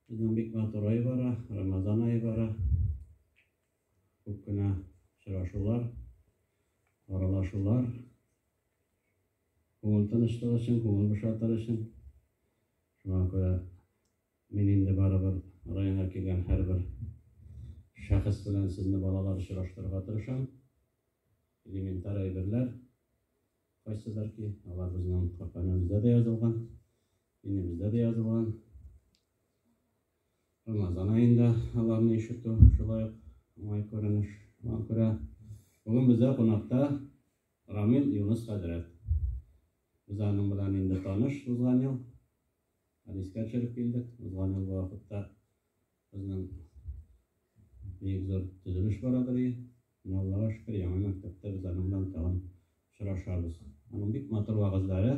Сезнең бик матур ай бара, Рамазан ае бара. Күп кенә очрашулар, аралашулар. Күңел тынычлыгы өчен, күңел бушатыр өчен. Шуңа күрә мин инде барыбер районга килгән һәрбер шәхес белән сезне балалар очраштырырга тырышам. Элементар әйберләр. Кайсыдыр ки, алар безнең Коръәнебездә дә язылган, динебездә дә язылган. Рамазан аенда аларны ишетү шулай ук уңай күренеш. Шуңа күрә бүген бездә кунакта Рамил Юныс хәзрәт. Без аның белән инде таныш узган ел. Хәдискә төшереп килдек. Узган ел бу вакытта Безнең бик зур төзелеш бара тора. Менә Аллага шөкер, яңа мәктәптә без аның белән тагын очрашабыз. Аның бик матур вәгазьләре.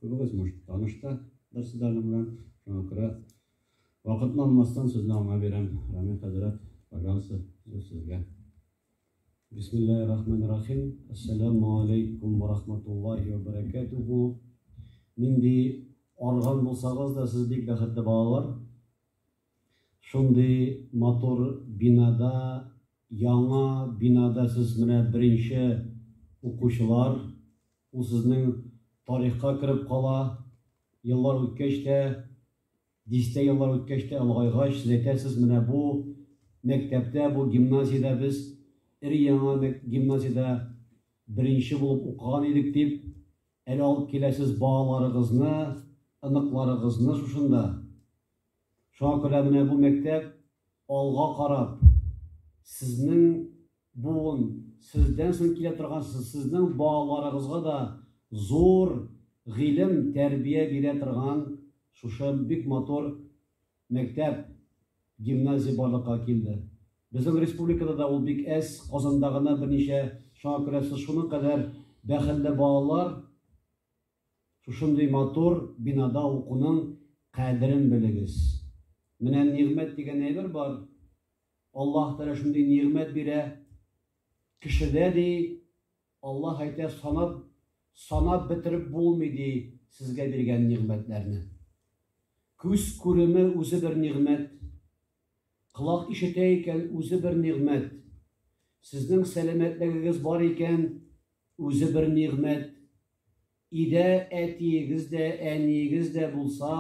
Күбегез, может, таныш та дерсез аның белән. Шуңа күрә вакытны алмастан сүзне аңа бирәм. Рамил хәзрәт, пожалуйста, сүз сезгә. Бисмиллаһи-рахмани-рахим. Ассаламу алейкум ва рахматуллахи ва баракатуху. Нинди арган булсагыз да, сез бик бәхетле балалар. Шундый матур бинада, яңа бинада сез менә беренче укучылар. Ул сезнең тарихка кереп кала. Еллар үткәч тә Дистә еллар үткәч тә, олыгайгач, сез әйтәсез, менә бу мәктәптә, бу гимназиядә без өр-яңа гимназиядә беренче булып укыган идек дип, әле алып киләсез балаларыгызны, оныкларыгызны шушында. Шуңа күрә менә бу мәктәп алга карап, сезнең Буын, сездән соң килә торган сезнең балаларыгызга да зур гыйлем, тәрбия бирә торган шушы бик матур мәктәп, гимназия барлыкка килде. Безнең республикада да ул бик әз, Казанда гына берничә, шуңа күрә сез шуның кадәр бәхелле балалар, шушындый матур бинада укуның кадерен белегез. Менә нигъмәт дигән әйбер бар, Аллаһ Тәгалә шундый нигъмәт бирә кешедә, ди, Аллаһ әйтә, санап, санап бетереп булмый, ди, сезгә биргән нигъмәтләрне. Күз күреме үзе бер нигъмәт, колак ишетә икән, үзе бер нигъмәт, сезнең сәламәтлегегез бар икән, үзе бер нигъмәт, идә әтиегез дә, әниегез дә булса,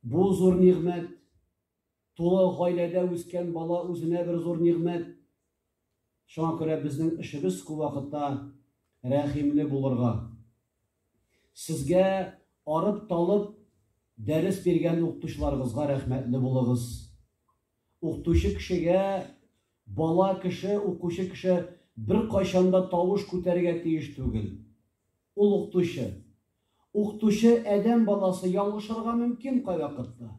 Бу зур нигъмәт. Тулы гаиләдә үскән бала үзенә бер зур нигъмәт. Шуңа күрә безнең эшебез күп вакытта рәхимле булырга. Сезгә арып-талып дәрес биргән укытучыларыгызга рәхмәтле булыгыз. Укытучы кешегә бала кеше, укучы кеше беркайчан да тавыш күтәрергә тиеш түгел. Ул укытучы, Укытучы Адәм баласы ялгышырга мөмкин кайвакытта.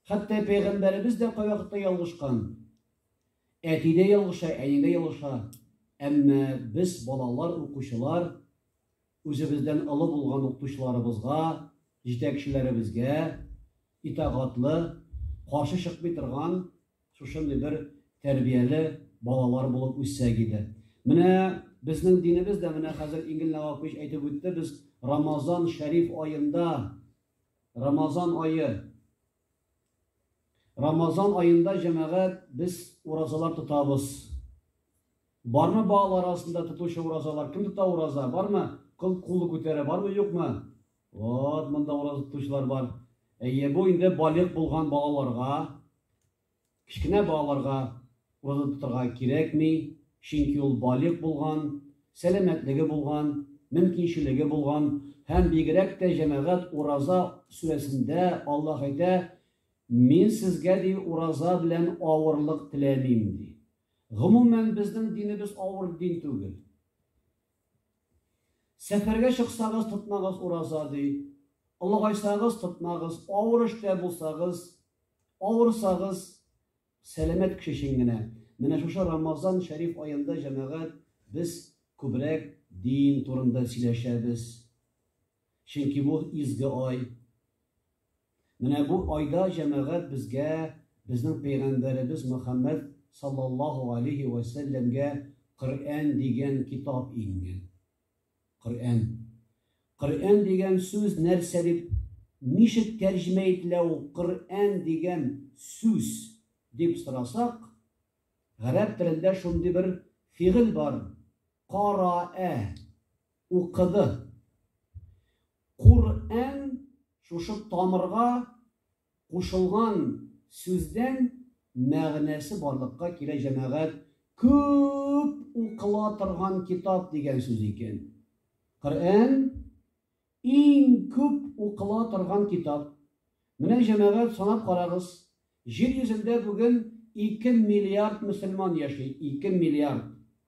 Хәтта пәйгамбәребез дә кайвакытта ялгышкан. Әти дә ялгыша, әни дә ялгыша. Әмма без балалар, укучылар үзебездән олы булган укытучыларыбызга, җитәкчеләребезгә итагатлы, каршы чыкмый торган Шушындый бер тәрбияле балалар булып үссәк иде. Менә безнең динебез дә менә хәзер Ингел Навапович әйтеп үтте, без Рамазан шәриф аенда Рамазан айы Рамазан аенда җәмәгать без уразалар тотабыз. Бармы балалар арасында тотучы уразалар? Кем тота ураза? Бармы? Кыл кулы күтәрә, бармы, юкмы? Вот, монда ураза тотучылар бар. Әйе, бу инде балигъ булган балаларга, кечкенә балаларга ураза тотарга кирәкми, чөнки ул балигъ булган, сәламәтлеге булган, мөмкинчелеге булган һәм бигрәк тә җәмәгать ураза сүрәсендә Аллаһ әйтә, мин сезгә ди ураза белән авырлык теләмим ди. Гомумән безнең динебез авыр дин түгел. Сәфәргә чыксагыз, тотмагыз ураза, ди. Олыгайсагыз, тотмагыз, авыр эштә булсагыз, авырсагыз, сәламәт кеше өчен генә. Менә шушы Рамазан шәриф аенда җәмәгать без күбрәк дин турында сөйләшәбез. Чөнки бу изге ай. Менә бу айда җәмәгать безгә безнең пәйгамбәребез Мөхәммәд саллаллаһу галәйһи вә сәлләмгә Коръән дигән китап иңгән. Коръән. Коръән дигән сүз нәрсә дип, ничек тәрҗемә ителә ул Коръән дигән сүз дип сорасак, гарәп телендә шундый бер фигыль бар, караә. Укыды. Кур-ән шушы тамырга кушылган сүздән мәгънәсе барлыкка килә җәмәгать күп укыла торган китап дигән сүз икән. Коръән иң күп укыла торган китап. Менә җәмәгать санап карагыз, җир йөзендә бүген ике миллиард мөселман яши, ике миллиард.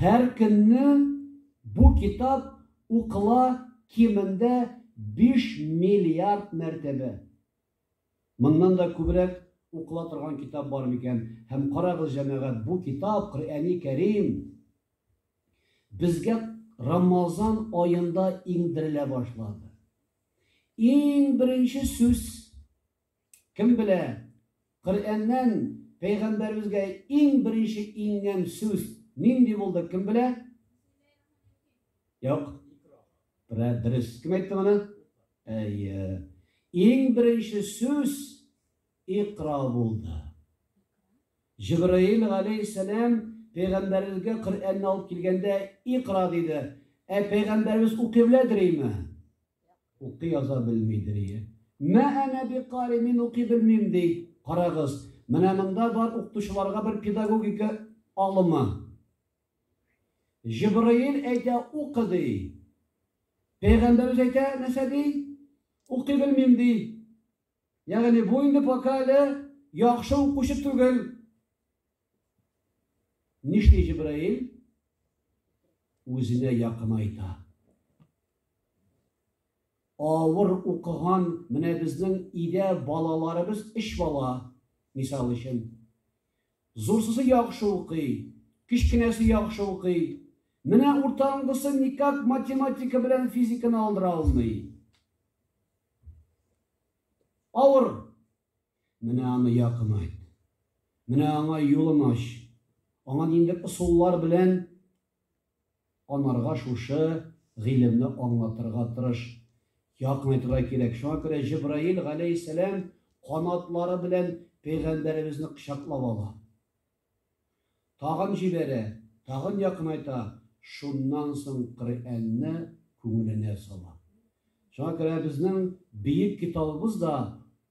Һәр көнне бу китап укыла кимендә биш миллиард мәртәбә. Моннан да күбрәк укыла торган китап бар микән? Һәм карагыз, җәмәгать, бу китап, Коръәни Кәрим, безгә Рамазан аенда иңдерелә башлады. Иң беренче сүз, Кем белә, Коръәннән пәйгамбәребезгә иң беренче иңгән сүз нинди булды, кем белә? Юк. Бра, дөрес. Кем әйтте моны? Әйе. Иң беренче сүз Икра булды. Җибраил галәйһиссәлам пәйгамбәребезгә Коръәнне алып килгәндә Икра диде. Ә пәйгамбәребез укый белә дриме? Укый яза белмидер ие. Мә әнә бикари, мин укый белмим, ди. Карагыз, менә монда бар укытучыларга бер педагогика алымы. Җибраил әйтә, укы, ди. Пәйгамбәребез әйтә, нәрсә ди? Укый белмим, ди. Ягъни бу инде пока әле яхшы укучы түгел. Нишли Җибраил? Үзенә якынайта. Авыр укыган менә безнең идә балаларыбыз эш бала, мисал өчен. Зурсысы яхшы укый, кечкенәсе яхшы укый. Менә уртаңгысы никак математика белән физиканы алдыра алмый. Авыр Менә аны якынайт. Менә аңа юлын ач. Аңа ниндидер ысуллар белән анарга шушы гыйлемне аңлатырга тырыш. Якынайтырга кирәк. Шуңа күрә Җибраил галәйһиссәлам канатлары белән пәйгамбәребезне кочаклап ала. Тагын җибәрә, тагын якынайта, шуннан соң Коръәнне күңеленә сала. Шуңа күрә безнең бөек китабыбыз да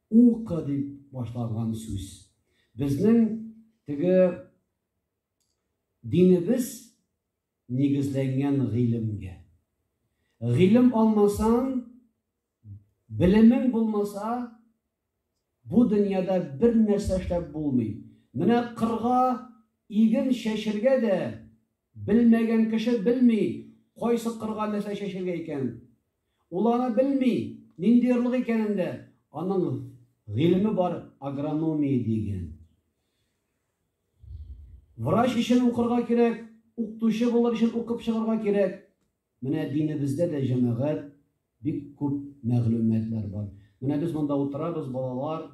Укы дип башланган сүз. Безнең теге динебез нигезләнгән гыйлемгә. Гыйлем алмасаң, Белемең булмаса, бу дөньяда бер нәрсә эшләп булмый. Менә кырга иген чәчергә дә белмәгән кеше белми, кайсы кырга нәрсә чәчергә икән. Ул аны белми, нинди орлык икәнен дә. Аның гыйлеме бар, агрономия дигән. Врач өчен укырга кирәк, укытучы булыр өчен укып чыгарга кирәк. Менә динебездә дә, җәмәгать, бик күп мәгълүматлар бар. Менә без монда утырабыз, балалар,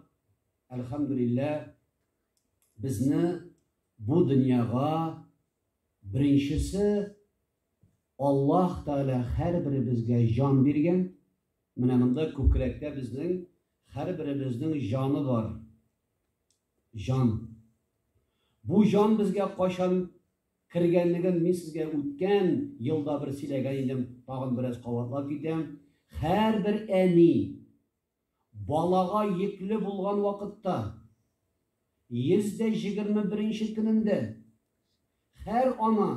әлхәмдүлиллә, безне бу дөньяга беренчесе Аллаһ Тәгалә һәрберебезгә җан биргән. Менә монда күкрәктә безнең һәрберебезнең җаны бар. Җан. Бу җан безгә кайчан Кергәнлеген мин сезгә үткән елда бер сөйләгән идем, тагын бераз кабатлап китәм. Һәрбер әни балага йөкле булган вакытта, 121 нче көнендә, һәр ана,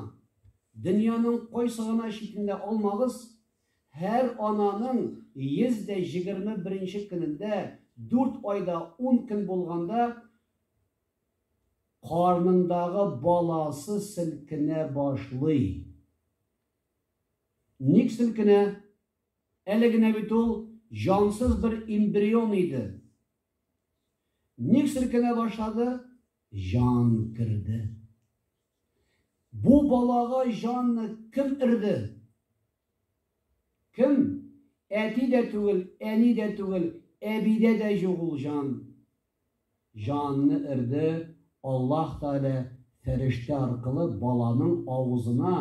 дөньяның кайсы гына читендә алмагыз, һәр ананың 121 нче көнендә, 4 айда 10 көн булганда, Карнындагы баласы селкенә башлый. Ник селкенә? Әле генә бит ул җансыз бер эмбрион иде. Ник селкенә башлады? Җан керде. Бу балага җанны кем ирде? Кем? Әти дә түгел, әни дә түгел, әбидә дә юк ул җан. Җанны өрде, Аллаһ Тәгалә фәрештә аркылы баланың авызына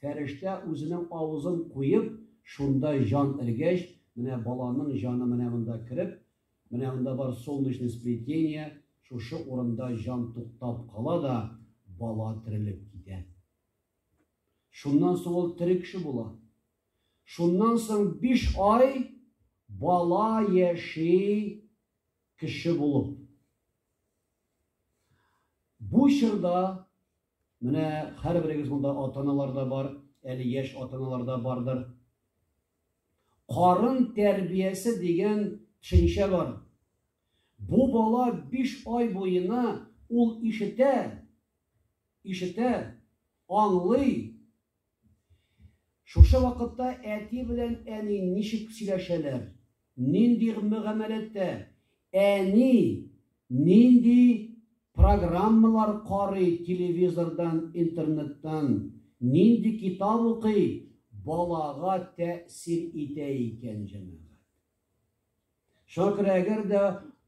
фәрештә үзенең авызын куеп, шунда җан өргәч, менә баланың җаны менә монда кереп, менә монда бар солнечный сплетение, шушы урында җан туктап кала да, бала терелеп китә. Шуннан соң ул тере кеше була. Шуннан соң биш ай бала яши кеше булып. Бу чорда менә һәрберегез монда ата-аналар да бар, әле яшь ата-аналар да бардыр. Карын тәрбиясе дигән төшенчә бар. Бу бала 5 ай буена ул ишетә, ишетә, аңлый, Шушы вакытта әти белән әни ничек сөйләшәләр, нинди мөгамәләттә, әни нинди программалар карый телевизордан, интернеттан, нинди китап укый, балага тәэсир итә икән, җәмәгать. Шуңа күрә әгәр дә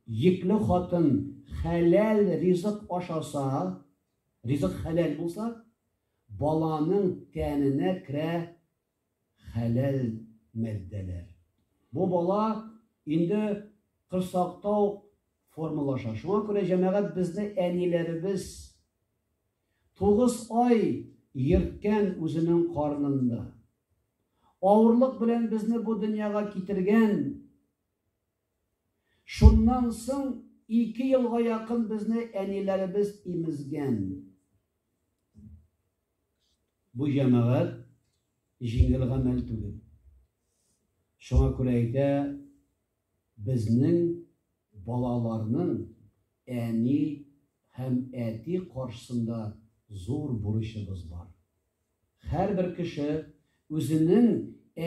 йөкле хатын хәләл ризык ашаса, ризык хәләл булса, Баланың тәненә керә хәләл матдәләр. Бу бала инде корсакта ук формалаша. Шуңа күрә җәмәгать безне әниләребез тугыз ай йөрткән үзенең карнында. Авырлык белән безне бу дөньяга китергән Шуннан соң ике елга якын безне әниләребез имезгән. Бу җәмәгать җиңел гамәл түгел. Шуңа күрә әйтә, безнең балаларның әни һәм әти каршысында зур бурычыбыз бар. Һәрбер кеше үзенең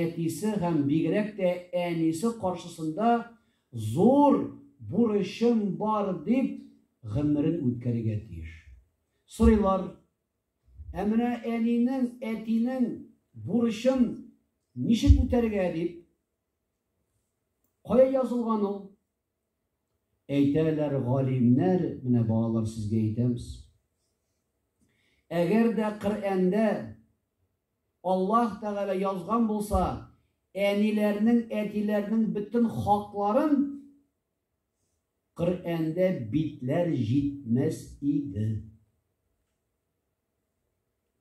әтисе һәм бигрәк тә әнисе каршысында зур бурычым бар дип гомерен үткәрергә тиеш. Сорыйлар, Ә менә әнинең, әтинең бурычын ничек үтәргә дип? Кая язылган ул? Әйтәләр галимнәр, менә балалар сезгә әйтәбез. Әгәр дә Коръәндә Аллаһ Тәгалә язган булса, әниләрнең, әтиләрнең бөтен хакларын Коръәндә битләр җитмәс иде.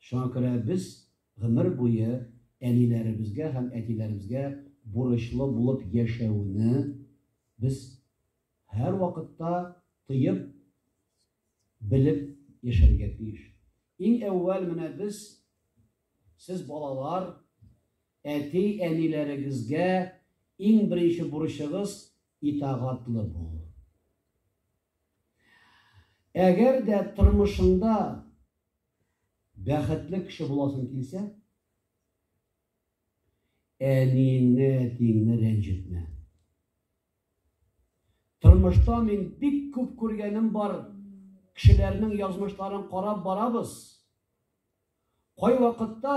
Шуңа күрә без гомер буе әниләребезгә һәм әтиләребезгә бурычлы булып яшәүне без һәрвакытта тоеп, белеп яшәргә тиеш. Иң әүвәл менә без, сез балалар, әти-әниләрегезгә иң беренче бурычыгыз Итагатлы бул. Әгәр дә тормышыңда бәхетле кеше буласың килсә, әниеңне, әтиеңне рәнҗетмә. Тормышта мин бик күп күргәнем бар, кешеләрнең язмышларын карап барабыз. Кай вакытта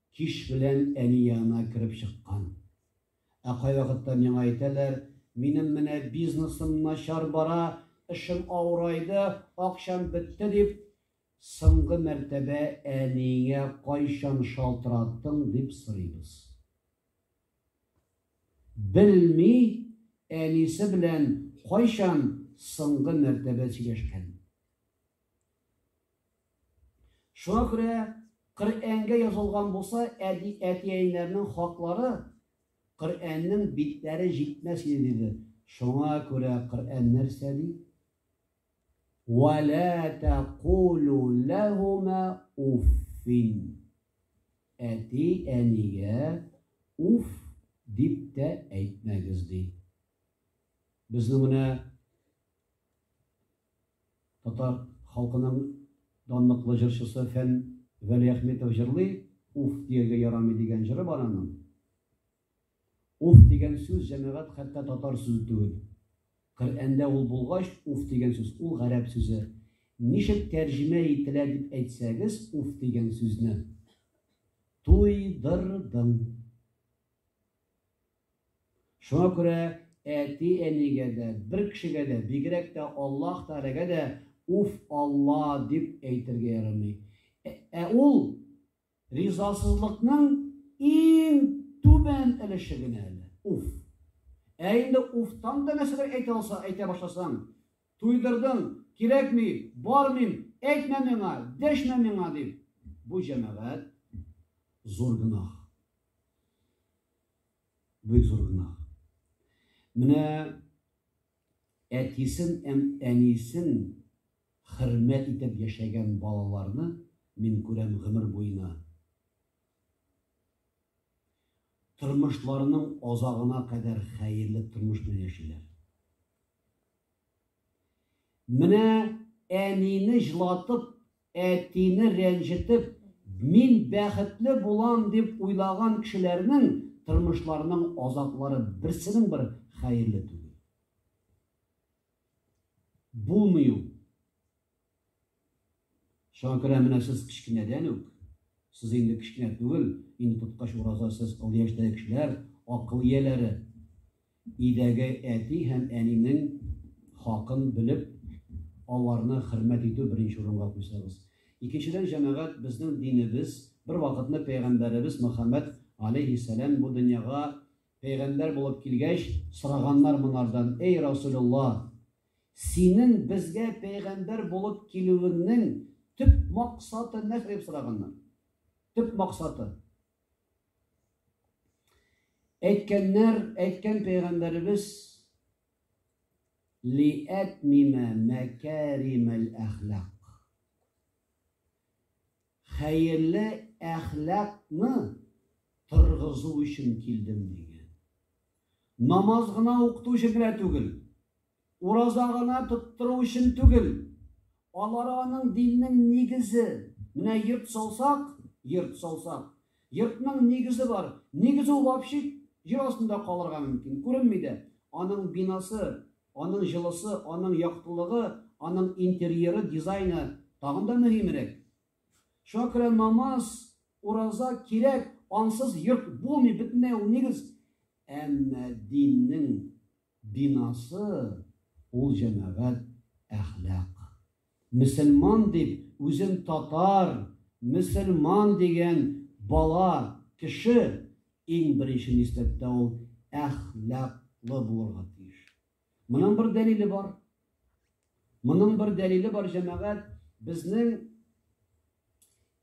Кич белән әни янына кереп чыккан. Ә кайвакытта миңа әйтәләр, Минем менә бизнесым начар бара, эшем авырайды, акчам бетте, дип, соңгы мәртәбә әниеңә кайчан шалтыраттың, дип сорыйбыз. Белми, әнисе белән кайчан соңгы мәртәбә сөйләшкән. Шуңа күрә Коръәнгә язылган булса, әти, әтиәниләрнең хаклары Коръәннең битләре җитмәс иде, диде. Шуңа күрә Коръән нәрсә ди? Вә лә тәкулу ләһүмә уффин. Әти, әнигә уф дип тә әйтмәгез, ди. Безнең менә Татар халкының данлыклы җырчысы Фән Вәлиәхметов җырлый, Уф дияргә ярамый дигән җыры бар аның. Уф дигән сүз, җәмәгать, хәтта татар сүзе түгел. Коръәндә ул булгач, уф дигән сүз, ул гарәп сүзе. Ничек тәрҗемә ителә дип әйтсәгез, уф дигән сүзне. Туйдырдың. Шуңа күрә әти-әнигә дә, бер кешегә дә, бигрәк тә Аллаһ Тәгаләгә дә Уф, Алла! дип әйтергә ярамый. Ә ул ризасызлыкның иң түбән өлеше генә әле, уф. Ә инде уфтан да нәрсәдер әйтә алса, әйтә башласаң, туйдырдың, кирәкми, бармыйм, әйтмә миңа, дәшмә миңа, дип, бу, җәмәгать, зур гөнаһ. Бик зур гөнаһ. Менә әтисен һәм әнисен хөрмәт итеп яшәгән балаларны мин күрәм гомер буена. Тормышларының азагына кадәр хәерле тормыш белән яшиләр. Менә әнине җлатып Әтине рәнҗетеп, мин бәхетле булам дип уйлаган кешеләрнең тормышларының азаплары берсенең бер хәерле түгел. Булмый ул. Шуңа күрә менә сез кечкенәдән үк, сез инде кечкенә түгел, инде тоткач ураза сез ул яшьтәге кешеләр, акыл ияләре. Өйдәге әти һәм әнинең хакын белеп, аларны хөрмәт итү беренче урынга куйсагыз. Икенчедән, җәмәгать, безнең динебез, бервакытны пәйгамбәребез Мөхәммәд, аләйһиссәлам, бу дөньяга пәйгамбәр булып килгәч, сораганнар монардан, Әй Расулелла, синең безгә пәйгамбәр булып килүеңнең төп максаты нәрсә? дип сораганнар. Төп максаты. Әйткәннәр, әйткән пәйгамбәребез лиәтмимә мәкәримәл әхлак. Хәерле әхлакны торгызу өчен килдем дигән. Намаз гына укыту өчен генә түгел, Ураза гына тоттыру өчен түгел, алары аның диннең нигезе. Менә йорт салсак, йорт салсак. Йортның нигезе бар. Нигез ул вообще җир астында калырга мөмкин, күренми дә. Аның бинасы, аның җылысы, аның яктылыгы, аның интерьеры, дизайны тагын да мөһимрәк. Шуңа күрә намаз, ураза кирәк, ансыз йорт булмый, бөтенләй ул нигез. Әмма диннең Бинасы, ул җәмәгать, әхлак. Мөселман дип, үзен татар, мөселман дигән бала, кеше, иң беренче нисбәттә ул әхлаклы булырга тиеш. Моның бер дәлиле бар. Моның бер дәлиле бар, җәмәгать, безнең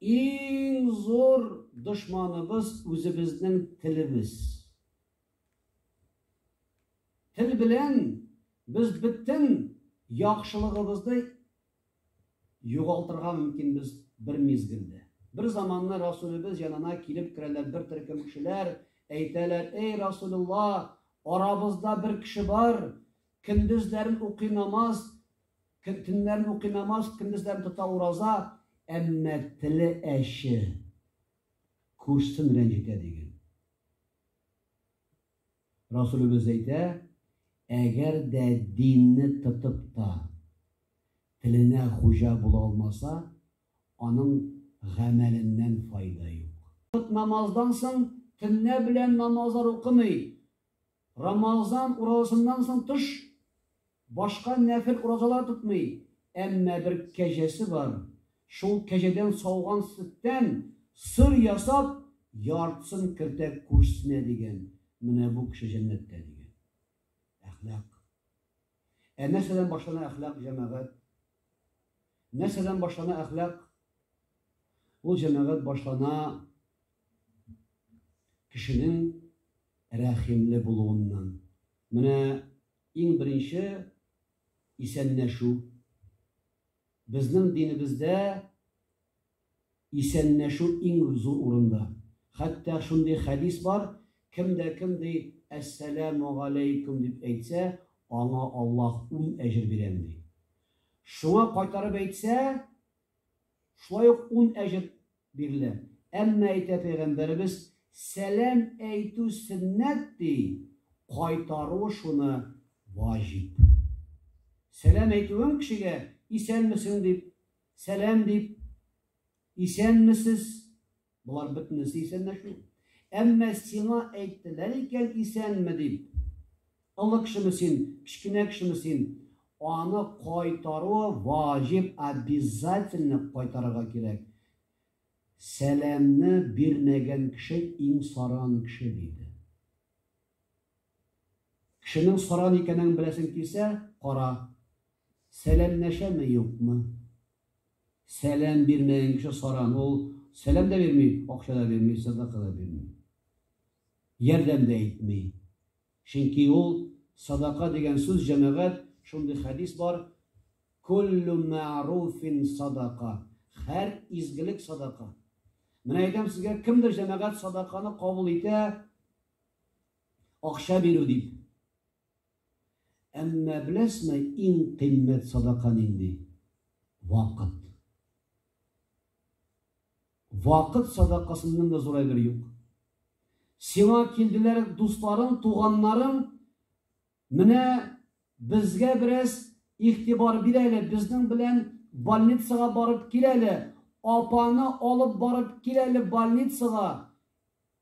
иң зур дошманыбыз үзебезнең телебез. Тел белән без бөтен яхшылыгыбызны югалтырга мөмкин без бер мизгелдә. Бер заманны Расулебез янына килеп керәләр бер төркем кешеләр, әйтәләр, эй Расулулла, арабызда бер кеше бар, көндезләрен укый намаз, төннәрен укый намаз, көндезләрен тота ураза, әмма теле әче, күрсен рәнҗетә диген. Расулебез әйтә, Әгәр дә динне тотып та, теленә хуҗа була алмаса, аның гамәленнән файда юк. Вакыт намаздан соң төнлә белән намазлар укымый, Рамазан уразасыннан соң тыш Башка нәфел уразалар тотмый, әмма бер кәҗәсе бар, шул кәҗәдән сауган сөттән сыр ясап, яртысын кертә күршесенә, дигән, менә бу кеше җәннәттә, дигән. Әхлак. Ә нәрсәдән башлана әхлак, җәмәгать? Нәрсәдән башлана әхлак? Ул җәмәгать башлана кешенең рәхимле булуыннан. Менә Иң беренче исәннәшү. Безнең динебездә исәннәшү иң зур урында. Хәтта шундый хәдис бар, кем дә кем ди, Әссәләмү галәйкүм дип әйтсә, аңа Аллаһ ун әҗер бирәм ди. Шуңа кайтарып әйтсә, шулай ук ун әҗер Бирелә. Әмма әйтә пәйгамбәребез, Сәлам әйтү сөннәт, ди, кайтару шуны ваҗиб. Сәлам әйтүең кешегә, исәнмесең дип, сәлам дип, исәнмесез, болар бөтенесе исәнләшү. Әмма сиңа әйттеләр икән исәнме дип, Олы кешеме син, кечкенә кешеме син, аны кайтаруы ваҗиб, обязательно кайтарырга кирәк. Сәламне бирмәгән кеше иң саран кеше, диде. Кешенең саран икәнен беләсең килсә, кара, сәламләшәме, юкмы? Сәлам бирмәгән кеше саран, ул сәлам да бирми, акча да бирми, сәдака да бирми. Ярдәм дә итми. Чөнки ул, садака дигән сүз, җәмәгать, шундый хәдис бар, Куллү мә'руфин садака, һәр изгелек садака. Менә әйтәм сезгә, кемдер җәмәгать садаканы кабул итә, акча бирү дип. Әмма беләсме, иң кыйммәт садака нинди? Вакыт. Вакыт садакасыннан да зур әйбер юк. Сиңа килделәр дусларың, туганнарың, менә безгә бераз игътибар бир әле, безнең белән больницага барып кил әле, апаны алып барып кил әле больницага,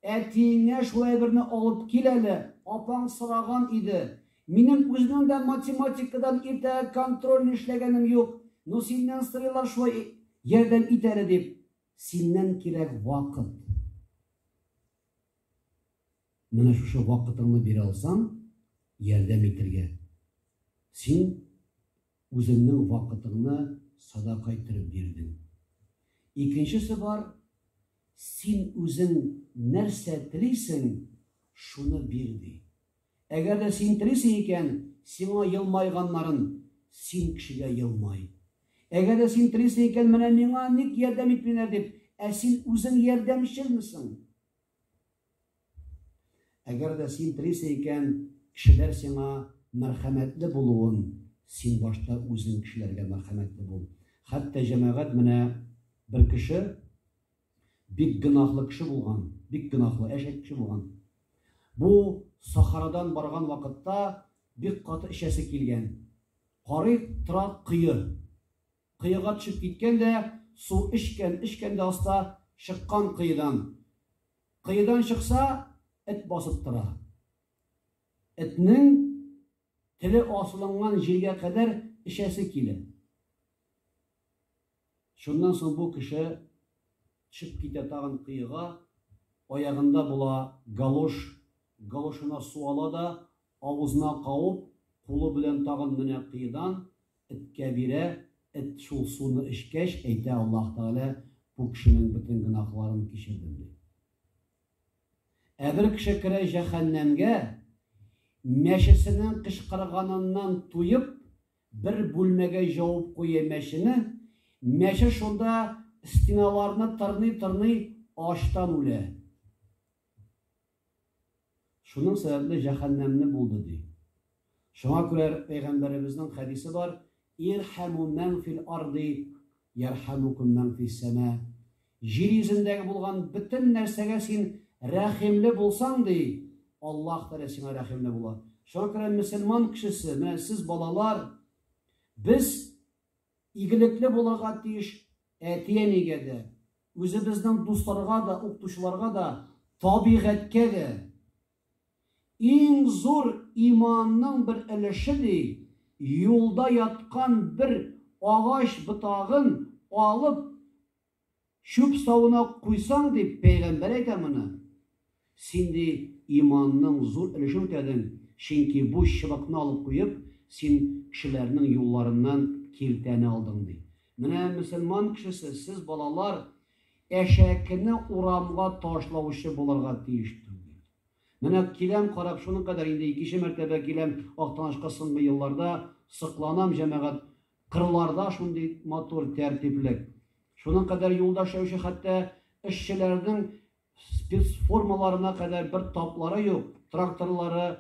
Әтиеңә шулай берне алып кил әле, апаң сораган иде. Минем үземнең дә математикадан иртәгә контрольный эшләгәнем юк, ну синнән сорыйлар шулай ярдәм ит әле дип. Синнән кирәк вакыт. Менә шушы вакытыңны бирә алсаң, ярдәм итергә. Син Үзеңнең вакытыңны садака иттереп бирдең. Икенчесе бар, син үзең нәрсә телисең, шуны бир, ди. Әгәр дә син телисең икән, сиңа елмайганнарын, син кешегә елмай. Әгәр дә син телисең икән, менә миңа ник ярдәм итмиләр дип, ә син үзең ярдәмчелмесең? Әгәр дә син трисе икән, кешеләр сиңа мәрхәмәтле булуын, син башта үзең кешеләргә мәрхәмәтле бул. Хәтта җәмәгать менә бер кеше бик гөнаһлы кеше булган, бик гөнаһлы әшәк кеше булган. Бу Сахарадан барган вакытта бик каты эчәсе килгән. Карый тора кое. Коега төшеп киткән дә, су эчкән, эчкән дә аста, чыккан коедан. Коедан чыкса, эт басып тора. Этнең теле асылынган җиргә кадәр эчәсе килә. Шуннан соң бу кеше төшеп китә тагын коега, аягында була галош, галошына су ала да, Авызына кауып, кулы белән тагын менә кыйдан эткә бирә, эт шул суны эчкәч, әйтә, Аллаһ Тәгалә бу кешенең бөтен гөнаһларын кичердем, ди. Ә бер кеше керә җәһәннәмгә, мәчесенең кычкырганыннан туеп, бер бүлмәгә җауып куя мәчене, мәче шунда стеналарны тырный-тырный ачтан үлә. Шуның сәбәпле җәһәннәмне булды, ди. Шуңа күрә пәйгамбәребезнең хәдисе бар, Ирхәмү мән фил арди, ярхәмүкүм мән фис сәма. Җир йөзендәге булган бөтен нәрсәгә син рәхимле булсаң, ди, Аллаһ Тәгалә сиңа рәхимле була. Шуңа күрә мөселман кешесе, менә сез балалар, без Игелекле булырга тиеш әти-әнигә дә, үзебезнең дусларга да, укытучыларга да, табигатькә дә. Иң зур иманның бер өлеше, ди, юлда яткан бер агач ботагын алып, Чүп савына куйсаң, ди пәйгамбәр әйтә моны, син, ди, иманның зур өлешен үтәдең, чөнки бу чыбыкны алып куеп, син кешеләрнең юлларыннан киртәне алдың, ди. Менә мөселман кешесе, сез, балалар, әшәкене урамга ташлаучы булырга тиеш түгел. Менә киләм карап, шуның кадәр, инде икенче мәртәбә киләм Актанашка соңгы елларда, сокланам, җәмәгать, Кырларда шундый матур тәртиплек. Шуның кадәр юл да эшләүче, хәтта эшчеләрнең спецформаларына кадәр бер таплары юк. Тракторлары,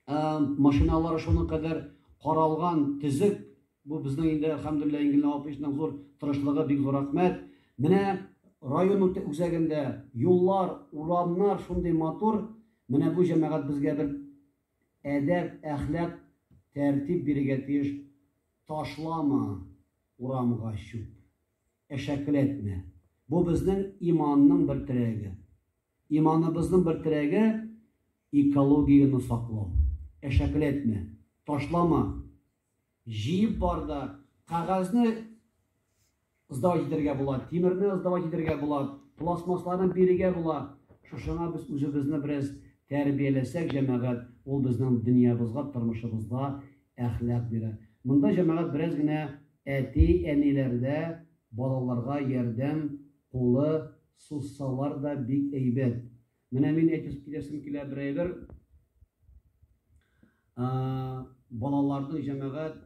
машиналары шуның кадәр каралган, төзек. Бу безнең инде, әлхәмдүлилләһ, Ингел Наваповичның зур тырышлыгы, бик зур рәхмәт. Менә район үзәгендә юллар, урамнар шундый матур. Менә бу җәмәгать безгә бер Әдәп, әхлак, тәртип бирергә тиеш Ташлама урамга чүп, әшәкеләтмә. Бу безнең иманның бер терәге. Иманыбызның бер терәге экологияне саклау. Әшәкеләтмә, ташлама. Җыеп бар да, кәгазьне сдавать итәргә була, тимерне сдавать итәргә була, пластмассларны бирергә була. Шушыңа без үзебезне бераз тәрбияләсәк, җәмәгать, ул безнең дөньябызга, тормышыбызга әхлак бирә. Монда җәмәгать бераз генә әти-әниләрдә балаларга ярдәм кулы сузсалар да бик әйбәт. Менә мин әйтеп киләсем килә бер әйбер. Балаларның җәмәгать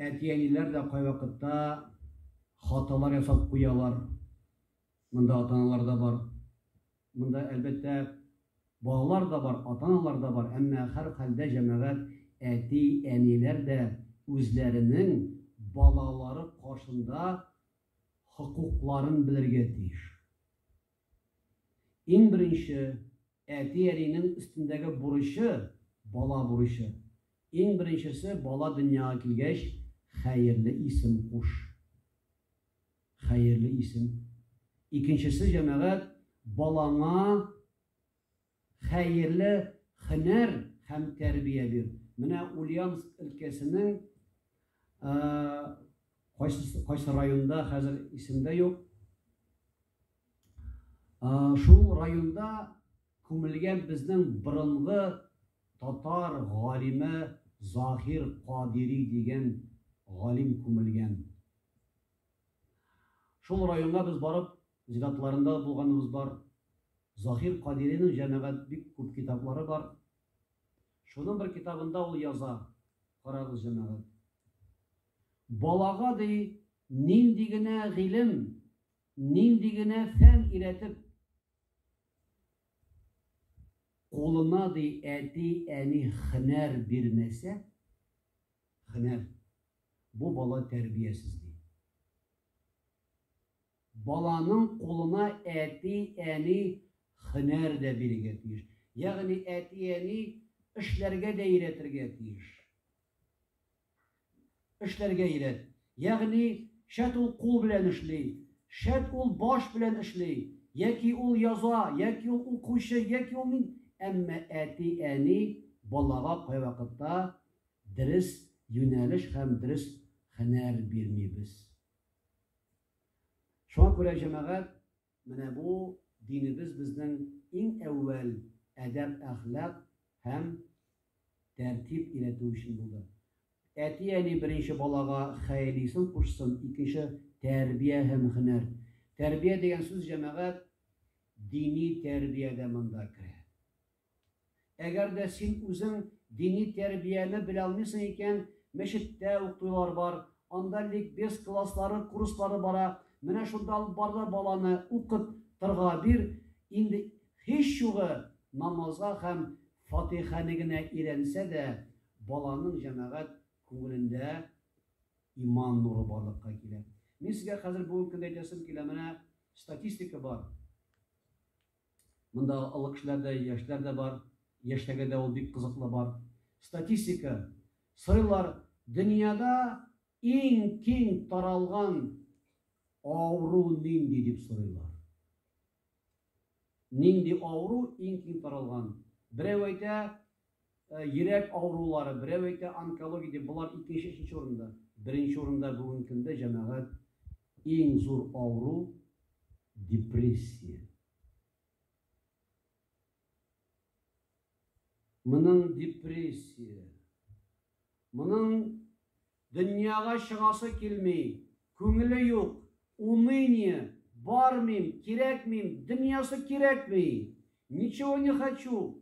әти-әниләр дә кайвакытта хаталар ясап куялар. Монда атаналар да бар. Монда әлбәттә балалар да бар, атаналар да бар, әмма һәр хәлдә җәмәгать әти, әниләр дә үзләренең балалары каршында хокукларын белергә тиеш. Иң беренче, әти-әнинең өстендәге бурычы, бала бурычы. Иң беренчесе, бала дөньяга килгәч, хәерле исем куш. Хәерле исем. Икенчесе, җәмәгать, балаңа Хәерле һөнәр һәм тәрбия бир. Менә Ульяновск өлкәсенең кайсы кайсы районда хәзер исемдә юк. Шул районда күмелгән безнең борынгы татар галиме Заһир Кадири дигән галим күмелгән. Шул районга без барып Иҗдатларында да булганыбыз бар. Заһир Кадиринең җәмәгать бик күп китаплары бар. Шуның бер китабында ул яза, карагыз, җәмәгать. Балага, ди, нинди генә гыйлем, нинди генә фән өйрәтеп, кулына, ди, әти, әни хөнәр бирмәсә, хөнәр, бу бала тәрбиясез, ди. Баланың кулына әти, әни һөнәр дә бирергә тиеш. Ягъни әти, әни эшләргә дә өйрәтергә тиеш. Эшләргә өйрәт. Ягъни шәт ул кул белән эшли, шәт ул баш белән эшли, яки ул яза, яки ул укучы, яки ул мин. Әмма әти, әни балага кайвакытта дөрес юнәлеш һәм дөрес һөнәр бирмибез. Шуңа күрә, җәмәгать, менә бу динебез безнең иң әүвәл әдәп-әхлак һәм тәртип өйрәтү өчен булды. Әти-әни беренче балага хәйлисын кушсын, икенче, тәрбия һәм һөнәр. Тәрбия дигән сүз, җәмәгать, дини тәрбия дә монда керә. Әгәр дә син үзең дини тәрбияне белә алмыйсың икән, мәчеттә укыйлар бар, анда ликбез класслары, курслары бара, менә шунда алып бар да баланы укып тырга бир, инде һич югы намазга һәм фатыйхәне генә өйрәнсә дә, баланың җәмәгать күңелендә иман нуры барлыкка килә. Мин сезгә хәзер бүгенге көндә әйтәсем килә, менә статистика бар. Монда олы кешеләр дә, яшьләр дә бар. Яшьләргә дә ул бик кызыклы бар. Статистика сорыйлар, дөньяда иң киң таралган авыру нинди дип сорыйлар. Нинди авыру иң киң таралган? Берәү әйтә, Йөрәк авырулары, берәү әйтә, онкология дип, болар икенче, өченче урында. Беренче урында бүгенге көндә, җәмәгать, иң зур авыру, депрессия. Моның депрессия. Моның дөньяга чыгасы килми, күңеле юк, уныние, бармыйм, кирәкмим, дөньясы кирәкми, ничего не хочу.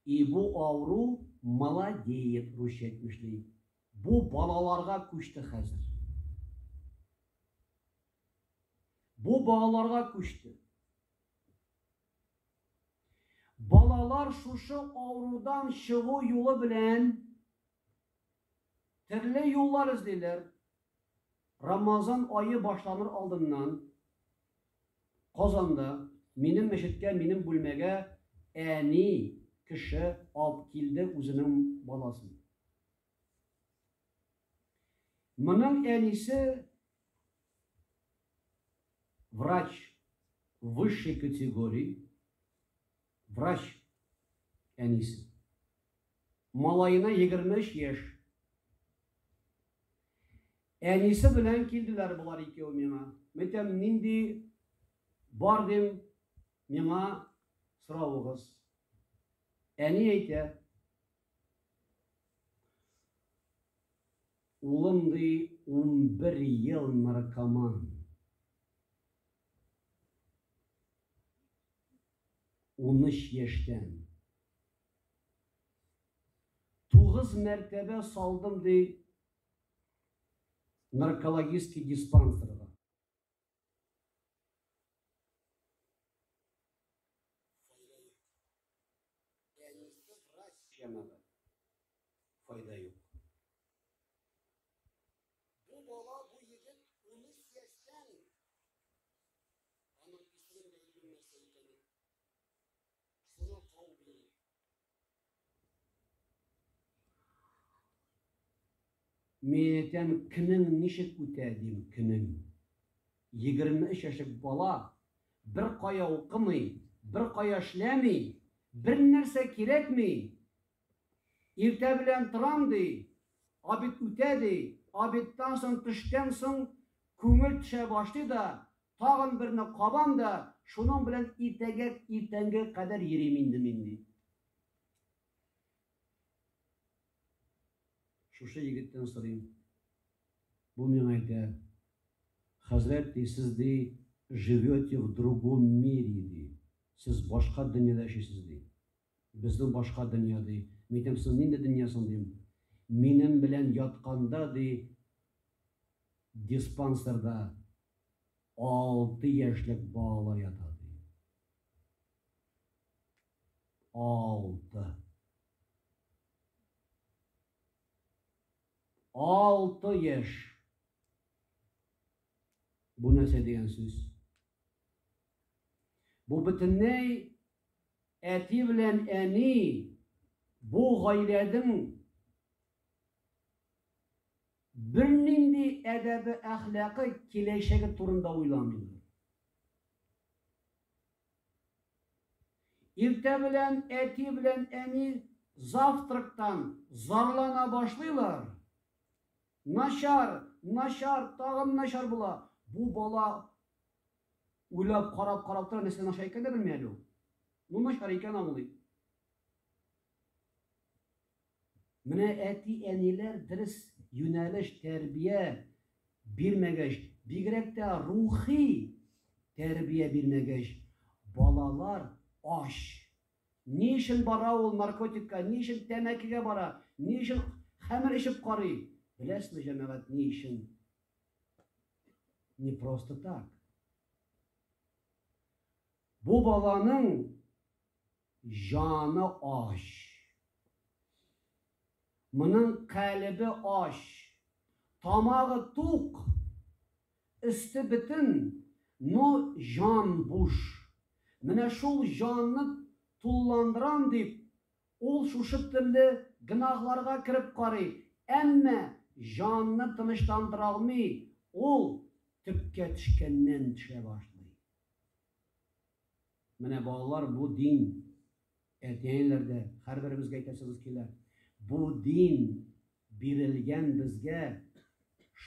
И бу авыру молодеет русча әйтмешли. Бу балаларга күчте хәзер. Бу балаларга күчте. Балалар шушы авырудан чыгу юлы белән Төрле юллар эзлиләр. Рамазан ае башланыр алдыннан Казанда минем мәчеткә, минем бүлмәгә әни кеше алып килде үзенең баласын. Моның әнисе врач высшей категории, врач әнисе. Малаена егерме өч яшь. Әнисе белән килделәр болар икәү миңа. Мәйтәм, нинди бар дим, миңа соравыгыз. Әни әйтә, улым ди, унбер ел наркоман. Уныч яшьтән. Тугыз мәртәбә салдым, ди наркологический диспансерга. Файда юк. Сиңа тәрбия. Мин әйтәм, көнең ничек үтә, дим, көнең. Егерме өч яшек бала, бер кая укымый, бер кая эшләми, бер нәрсә кирәкми, Иртә белән торам, ди, обед үтә, ди, обедтан соң, төштән соң күңел төшә башлый да, тагын берне кабам да, шуның белән иртәгә, иртәнге кадәр йөрим инде мин, ди. Шушы егеттән сорыйм. Бу миңа әйтә, Хәзрәт, ди, сез, ди, живете в другом мире, ди, сез башка дөньяда яшисез, ди. Безнең башка дөнья, ди. Митем, соң нинди дөнья соң, дим. Минем белән ятканда, ди, диспансерда алты яшьлек балалар ята, ди. Алты. Алты яшь. Бу нәрсә дигән сүз? Бу бөтенләй Әти белән әни бу гаиләдең бернинди әдәбе-әхлакы, киләчәге турында уйламыйлар. Иртә белән әти белән әни завтрактан зарлана башлыйлар. Начар, начар, тагын начар була. Бу бала Уйлап, карап, карап тора, нәрсә начар икән дә белми әле ул. Ну начар икән аңлый. Менә әти-әниләр дөрес юнәлеш, тәрбия бирмәгәч, бигрәк тә рухи тәрбия бирмәгәч, балалар ач. Ни өчен бара ул наркотикка, ни өчен тәмәкегә бара, ни өчен хәмер эчеп карый? Беләсезме, җәмәгать, ни өчен? Не просто так. Бу баланың җаны ач. Моның калебе ач. Тамагы тук. Өсте бетен, но җан буш. Менә шул җанны тулландырам дип, Ул шушы төрле гөнаһларга кереп карый, әмма җанны тынычландыра алмый, ул төпкә төшкәннән төшә башлый. Менә, балалар, бу дин. Әти-әниләр дә һәрберебезгә әйтәсегез килә. Бу дин бирелгән безгә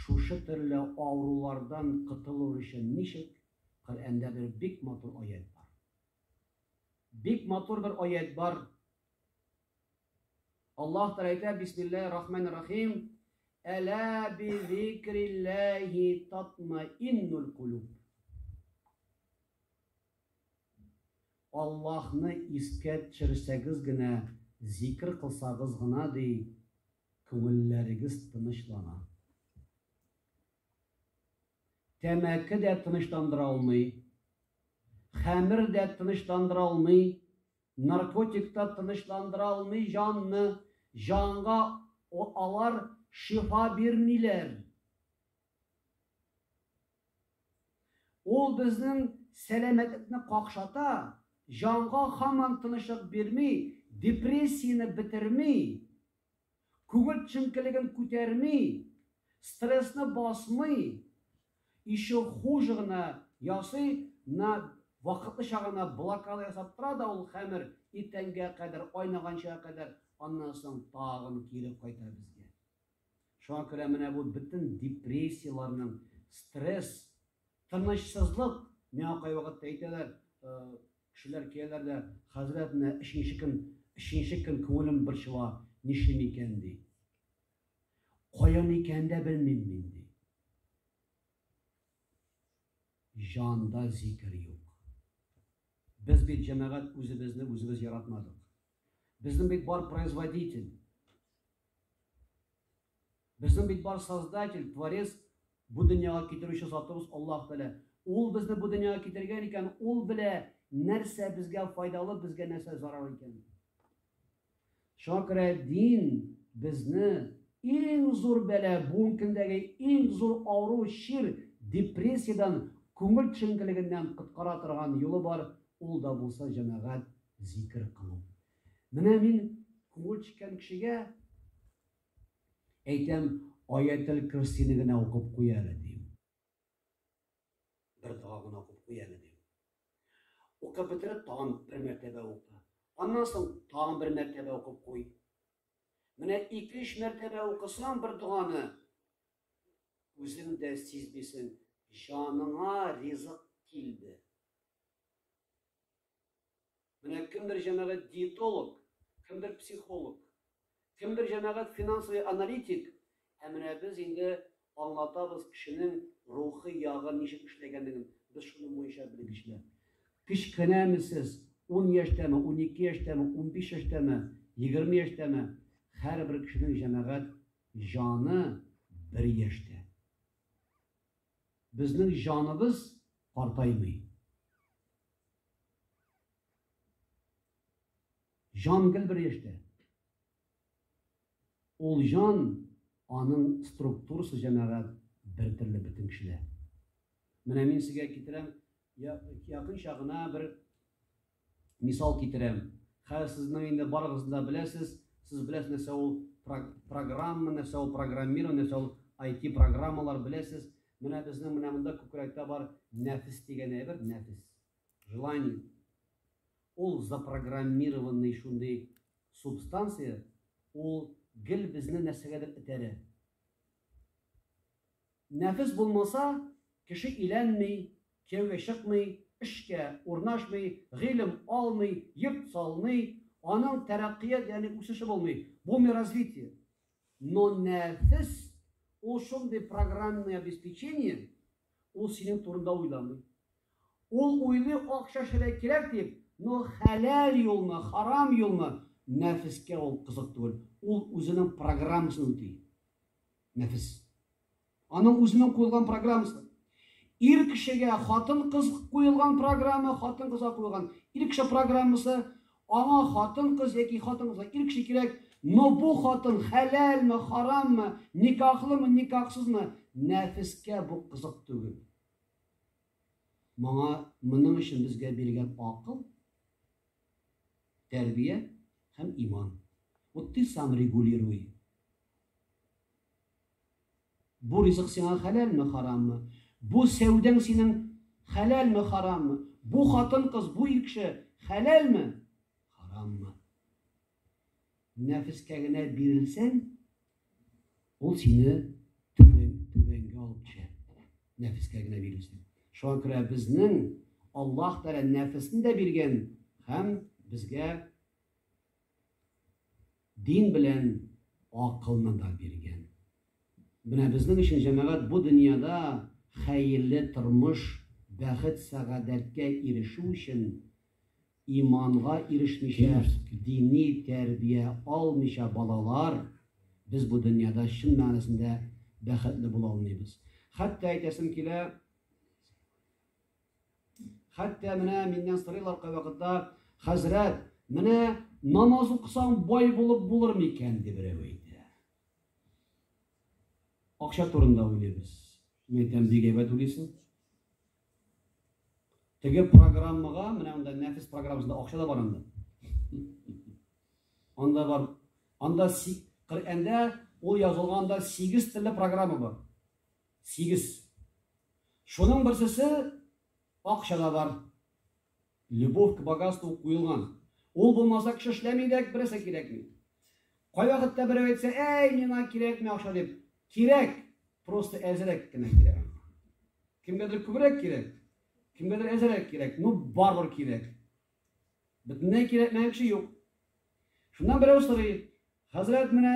шушы төрле авырулардан котылу өчен ничек? Коръәндә бер бик матур аять бар. Бик матур бер аять бар. Аллаһ Тәгалә әйтә, Бисмиллаһи рахманир рахим, Әлә би зикриллаһи татмаиннуль кулуб. Аллаһны искә төшерсәгез генә, зикр кылсагыз гына ди, күңелләрегез тынычлана. Тәмәке дә тынычландыра алмый, хәмер дә тынычландыра алмый, наркотик та тынычландыра алмый җанны, җанга алар шифа бирмиләр. Ул безнең сәламәтлекне какшата, җанга һаман тынычлык бирми, депрессияне бетерми. Күңел төшенкелеген күтәрми, стрессны басмый, еще хуже гына ясый, на вакытлыча гына блокада ясап тора да ул хәмер иртәнгә кадәр, айнаганчыга кадәр, аннан соң тагын кире кайта безгә. Шуңа күрә менә бу бөтен депрессияләрнең, стресс Тынычсызлык, миңа кайвакыт әйтәләр, кешеләр киләләр дә, Хәзрәт, менә өченче көн, өченче көн күңелем борчыла, нишлим икән, ди. Каян икәнен дә белмим мин, ди. Җанда зикер юк. Без бит, җәмәгать, үзебезне үзебез яратмадык. Безнең бит бар производитель. Безнең бит бар создатель, творец, бу дөньяга китерүче Затыбыз Аллаһ Тәгалә. Ул безне бу дөньяга китергән икән, ул белә, нәрсә безгә файдалы, безгә нәрсә зарар икән. Шуңа күрә дин безне иң зур бәла, бүгенге көндәге иң зур авыру, чир, депрессиядән, күңел төшенкелегеннән коткара торган юлы бар, ул да булса җәмәгать зикер кылу. Менә мин күңел чиккән кешегә әйтәм, аятел көрсине генә укып куй әле дим. Бер дога гына укып куй әле дим. Укып бетереп, тагын бер мәртәбә укы. Аннан соң тагын бер мәртәбә укып куй. Менә ике-өч мәртәбә укысаң бер доганы, үзең дә сизмисең, җаныңа ризык килде. Менә кемдер җәмәгать диетолог, кемдер психолог, кемдер җәмәгать финансовый аналитик, ә менә без инде аңлатабыз кешенең рухи ягы ничек эшләгәнлеген, без шуның буенча белгечләр. Кечкенәме сез, ун яшьтәме, унике яшьтәме, унбиш яшьтәме, егерме яшьтәме, һәрбер кешенең җәмәгать җаны бер яшьтә. Безнең җаныбыз картаймый. Җан гел бер яшьтә. Ул җан, аның структурасы җәмәгать бер төрле бөтен кешедә. Менә мин сезгә китерәм, якынча гына бер мисал китерәм. Хәзер сезнең инде барыгыз да беләсез, сез беләсез нәрсә ул программа, нәрсә ул программирование, нәрсә ул IT программалар беләсез. Менә безнең менә монда күкрәктә бар нәфес дигән әйбер, нәфес. Желание. Ул запрограммированный шундый субстанция, ул гел безне нәрсәгәдер этәрә. Нәфес булмаса, кеше иләнми, кияүгә чыкмый, эшкә урнашмый, гыйлем алмый, йорт салмый, аның тәрәккыят, ягъни үсеше булмый. Булмый развитие. Но нәфес, ул шундый программное обеспечение, ул синең турында уйламый. Ул уйлый акча шәләй кирәк дип, но хәләл юлмы, харам юлмы, нәфескә ул кызык түгел. Ул үзенең программасын үти. Нәфес. Аның үзенең куелган программасы. Ир кешегә хатын-кыз куелган программа, хатын-кызга куелган ир кеше программасы. Аңа хатын-кыз яки хатын-кызга ир кеше кирәк, но бу хатын хәләлме, хараммы, никахлымы, никахсызмы, нәфескә бу кызык түгел. Моңа, моның өчен безгә биргән акыл, тәрбия һәм иман. Вот ты сам регулируй. Бу ризык сиңа хәләлме, хараммы? Бу сәүдәң синең хәләлме, хараммы? Бу хатын-кыз, бу ир кеше хәләлме, хараммы? Нәфескә генә бирелсәң, ул сине түбәнгә алып төшә. Нәфескә генә бирелсәң. Шуңа күрә безнең Аллаһ Тәгалә нәфесне дә биргән һәм безгә Дин белән акылны да биргән. Менә безнең өчен, җәмәгать, бу дөньяда хәерле тормыш, бәхет-сәгадәткә ирешү өчен иманга ирешмичә, дини тәрбия алмыйча балалар, без бу дөньяда чын мәгънәсендә бәхетле була алмыйбыз. Хәтта әйтәсем килә, Хәтта менә миннән сорыйлар кайвакытта, хәзрәт, менә намаз укысаң бай булып булыр микән, дип берәү әйтә. Акча турында уйлыйбыз. Мин әйтәм, бик әйбәт уйлыйсың. Теге программага, менә анда нәфис программасында акча да бар анда. Анда бар. Анда Коръәндә ул язылганда 8 төрле программа бар. Сигез. Шуның берсесе акчада бар. Любовь к богатству куелган. Ул булмаса кеше эшләми дә, берсе кирәкми. Кайвакытта берәү әйтсә, әй, миңа кирәкми акча дип. Кирәк, просто әзерәк кенә кирәк. Кемгәдер күбрәк кирәк, кемгәдер әзерәк кирәк, ну барбар кирәк. Бөтенләй кирәкмәгән кеше юк. Шуннан берәү сорый, хәзрәт менә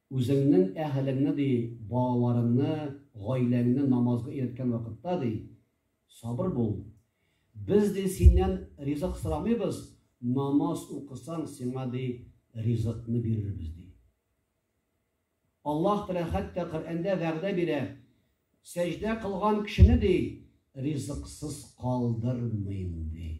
Үзеңнең әһелеңне, ди, балаларыңны, гаиләңне намазга өйрәткән вакытта, ди, сабыр бул. Без, ди, синнән ризык сорамыйбыз, намаз укысаң, сиңа, ди, ризыкны бирербез, ди. Аллаһ Тәгалә хәтта Коръәндә вәгъдә бирә, сәҗдә кылган кешене, ди, ризыксыз калдырмыйм, ди.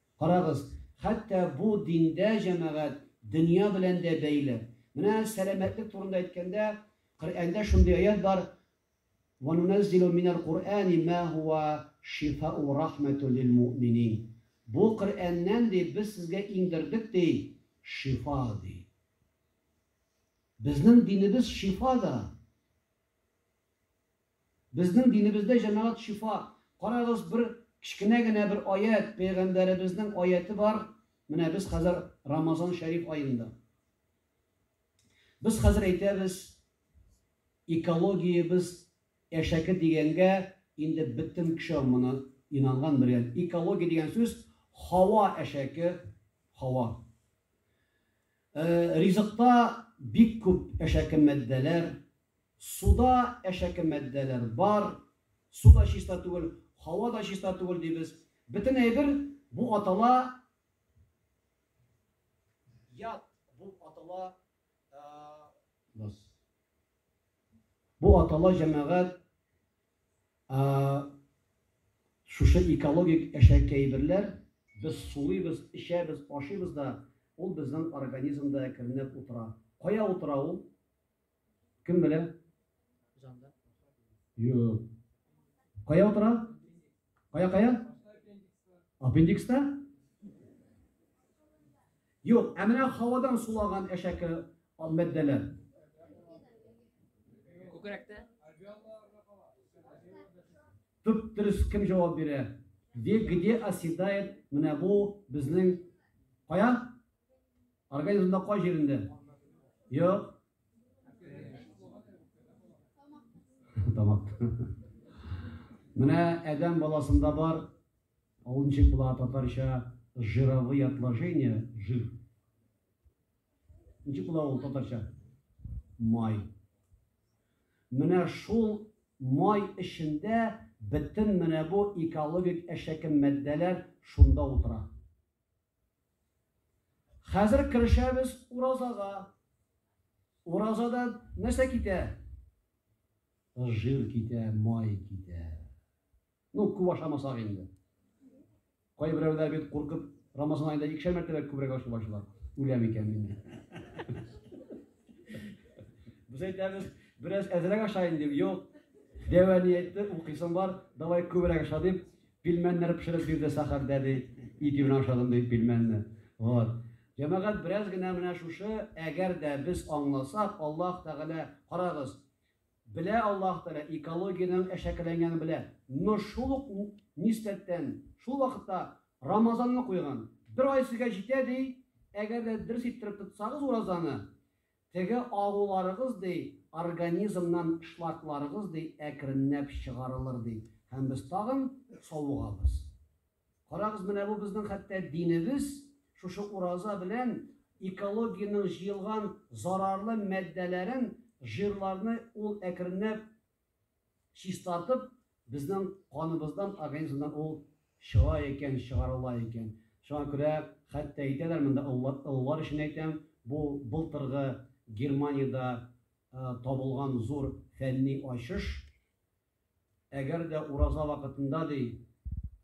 Карагыз, хәтта бу диндә җәмәгать дөнья белән дә бәйле. Менә сәламәтлек турында әйткәндә, Коръәндә шундый аять бар, Ва нунәззилү минәл Коръәни мә һуа шифау ва рахмәтү лил муъминин. Бу Коръәннән, ди, без сезгә иңдердек, ди, шифа, ди. Безнең динебез шифа да. Безнең динебездә җәмәгать шифа. Карагыз, бер кечкенә генә бер аять, пәйгамбәребезнең аяте бар, менә без хәзер Рамазан шәриф аенда. Без хәзер әйтәбез, экологиябез әшәке дигәнгә, инде бөтен кеше моны инанган белгән. Экология дигән сүз, һава әшәке, һава. Ризыкта бик күп әшәке матдәләр, суда әшәке матдәләр бар, су да чиста түгел, һава да чиста түгел дибез. Бөтен әйбер бу атала ят, бу атала бу атала җәмәгать Ә шушы экологик әшәкеәйберләр, без сулыйбыз, эчәбез, ашыйбыз да, ул безнең организмда әкренләп утыра. Кая утыра ул? Кем белә? Җанда. Юк. Кая утыра? Кая, кая? Аппендикста? Юк, ә менә һавадан сулаган әшәке ал мәддәләр. Күкрәктә? Төп дөрес кем җавап бирә? Где, где оседает менә бу безнең кая? Организмда кай җирендә? Юк, Тамак. Менә әдәм баласында бар, ул ничек була татарча жировые отложения, жир. Ничек була ул татарча? Май. Менә шул май эчендә бөтен менә бу экологик әшәке матдәләр шунда утыра. Хәзер керешәбез уразага. Уразадан нәрсә китә? Жир китә, май китә. Ну, күп ашамасак инде. Кайберәүләр бит куркып Рамазан айында икешәр мәртәбә күбрәк ашый башлар. Үләм икән мин. Без әйтәбез, бераз әзрәк ашайын дип, юк. Дәва әйтте, укыйсың бар, давай күбрәк аша дип, Пилмәннәр пешереп бирде Сәхәрдә, ди. Ит имен ашадым, ди, пилмәнне. Вот. Җәмәгать, бераз генә менә шушы, әгәр дә без аңласак, Аллаһ Тәгалә, карагыз, белә Аллаһ Тәгалә, экологиянең әшәкеләнгәнен белә. Но шул ук нисбәттән, шул вакытта Рамазанны куйган. Бер ай сезгә җитә, ди, әгәр дә дөрес иттереп тотсагыз уразаны, Теге агуларыгыз, ди, организмнан шлакларыгыз, ди, әкренләп чыгарылыр, ди, һәм без тагын савыгабыз. Карагыз, менә бу безнең хәтта динебез шушы ураза белән экологиянең җыелган зарарлы матдәләрен, жирларны ул әкренләп Чистартып, безнең каныбыздан, организмнан ул чыга икән, чыгарыла икән. Шуңа күрә хәтта әйтәләр, монда олылар өчен әйтәм, бу былтыргы Германиядә табылган зур фәнни ачыш. Әгәр дә ураза вакытында, ди,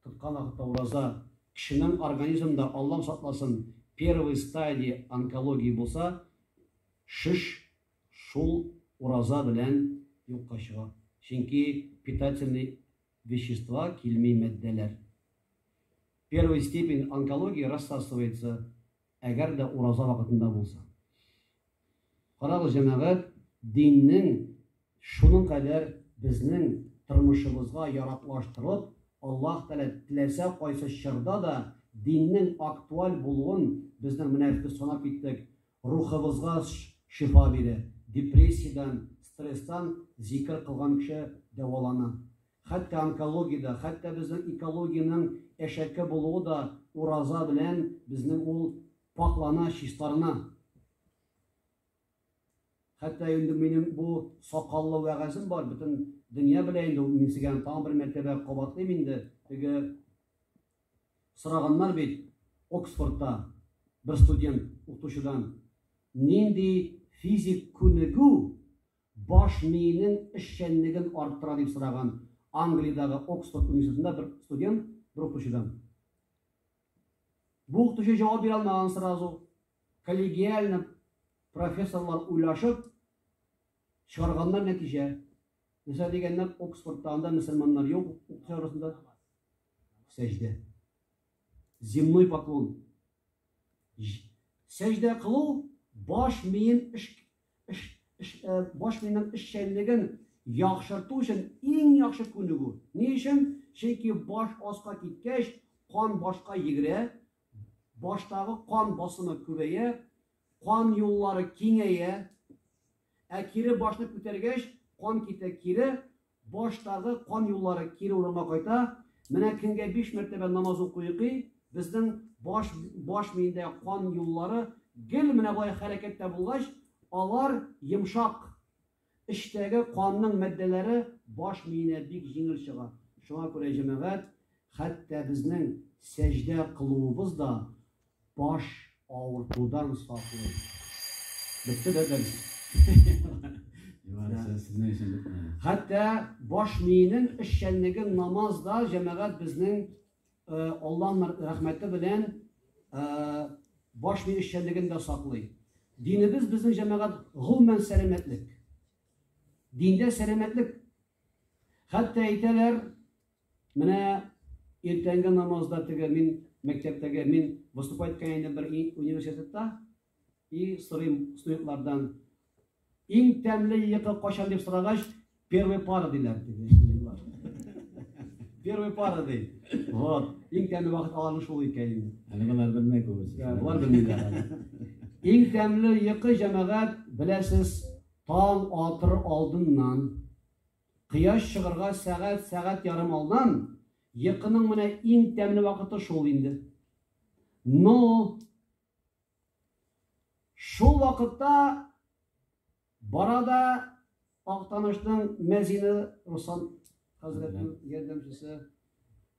тоткан вакытта ураза, кешенең организмында, Аллам сакласын, первой стадии онкология булса, шеш Шул ураза белән юкка чыга, чөнки питательный вещества килми матдәләр. Первый степень онкологии рассасывается, әгәр дә ураза вакытында булса. Карагыз, җәмәгать, диннең шуның кадәр безнең тормышыбызга яраклаштырып, Аллаһ Тәгалә теләсә кайсы чорда да диннең актуаль булуын безнең менә санап киттек, рухыбызга шифа бирә. Депрессиядән, стресстан зикер кылган кеше дәвалана. Хәтта онкологиядә, хәтта безнең экологиянең әшәке булуы да ураза белән безнең ул пакьлана, чистарына. Хәтта инде минем бу сакаллы вәгазем бар, бөтен дөнья белә инде ул, мин сезгә тагын бер мәртәбә кабатлыйм инде, теге Сораганнар бит Оксфордта бер студент укытучыдан, нинди физик күнегү баш миенең эшчәнлеген арттыра дип сораган Англиядагы Оксфорд университетында бер студент бер укытучыдан. Бу укытучы җавап бирә алмаган сразу. Коллегиально профессорлар уйлашып чыгарганнар нәтиҗә. Нәрсә дигәннәр, Оксфордта анда мөселманнар юк укытучылар арасында. сәҗдә. Земной поклон. Сәҗдә кылу баш миен эш эш эш э, баш миенең эшчәнлеген яхшырту өчен иң яхшы күнегү. Ни өчен? Чөнки баш аска киткәч, кан башка йөгерә, баштагы кан басымы күбәя, кан юллары киңәя, ә кире башны күтәргәч, кан китә кире, Баштагы кан юллары кире урынга кайта. Менә көнгә биш мәртәбә намаз укыйкый, безнең баш баш миендә кан юллары гел менә болай хәрәкәттә булгач, алар йомшак. Эчтәге канның матдәләре баш миенә бик җиңел чыга. Шуңа күрә, җәмәгать, хәтта безнең сәҗдә кылуыбыз да Баш авыртудан саклый. Бетте дә дәрес. Хәтта баш миенең эшчәнлеге намазда җәмәгать безнең э, Аллаһның рәхмәте белән э, баш ми эшчәнлеген дә саклый. Динебез безнең җәмәгать гомумән сәламәтлек. Диндә сәламәтлек Хәтта әйтәләр, менә иртәнге намазда теге мин мәктәптәге мин выступать иткән идем бер университетта и сорыйм студентлардан иң тәмле йокы кайчан дип сорагач первый пара диләр первый пара ди вот иң тәмле вакыт аларның шул икән инде әле болар белмәй күбесе болар белмиләр иң тәмле йокы җәмәгать беләсез Таң атыр алдыннан, кояш чыгырга сәгать, сәгать ярым алдан, йокының менә иң тәмле вакыты шул инде. Но шул вакытта барада Актанышның мәзине Руслан хәзрәтнең ярдәмчесе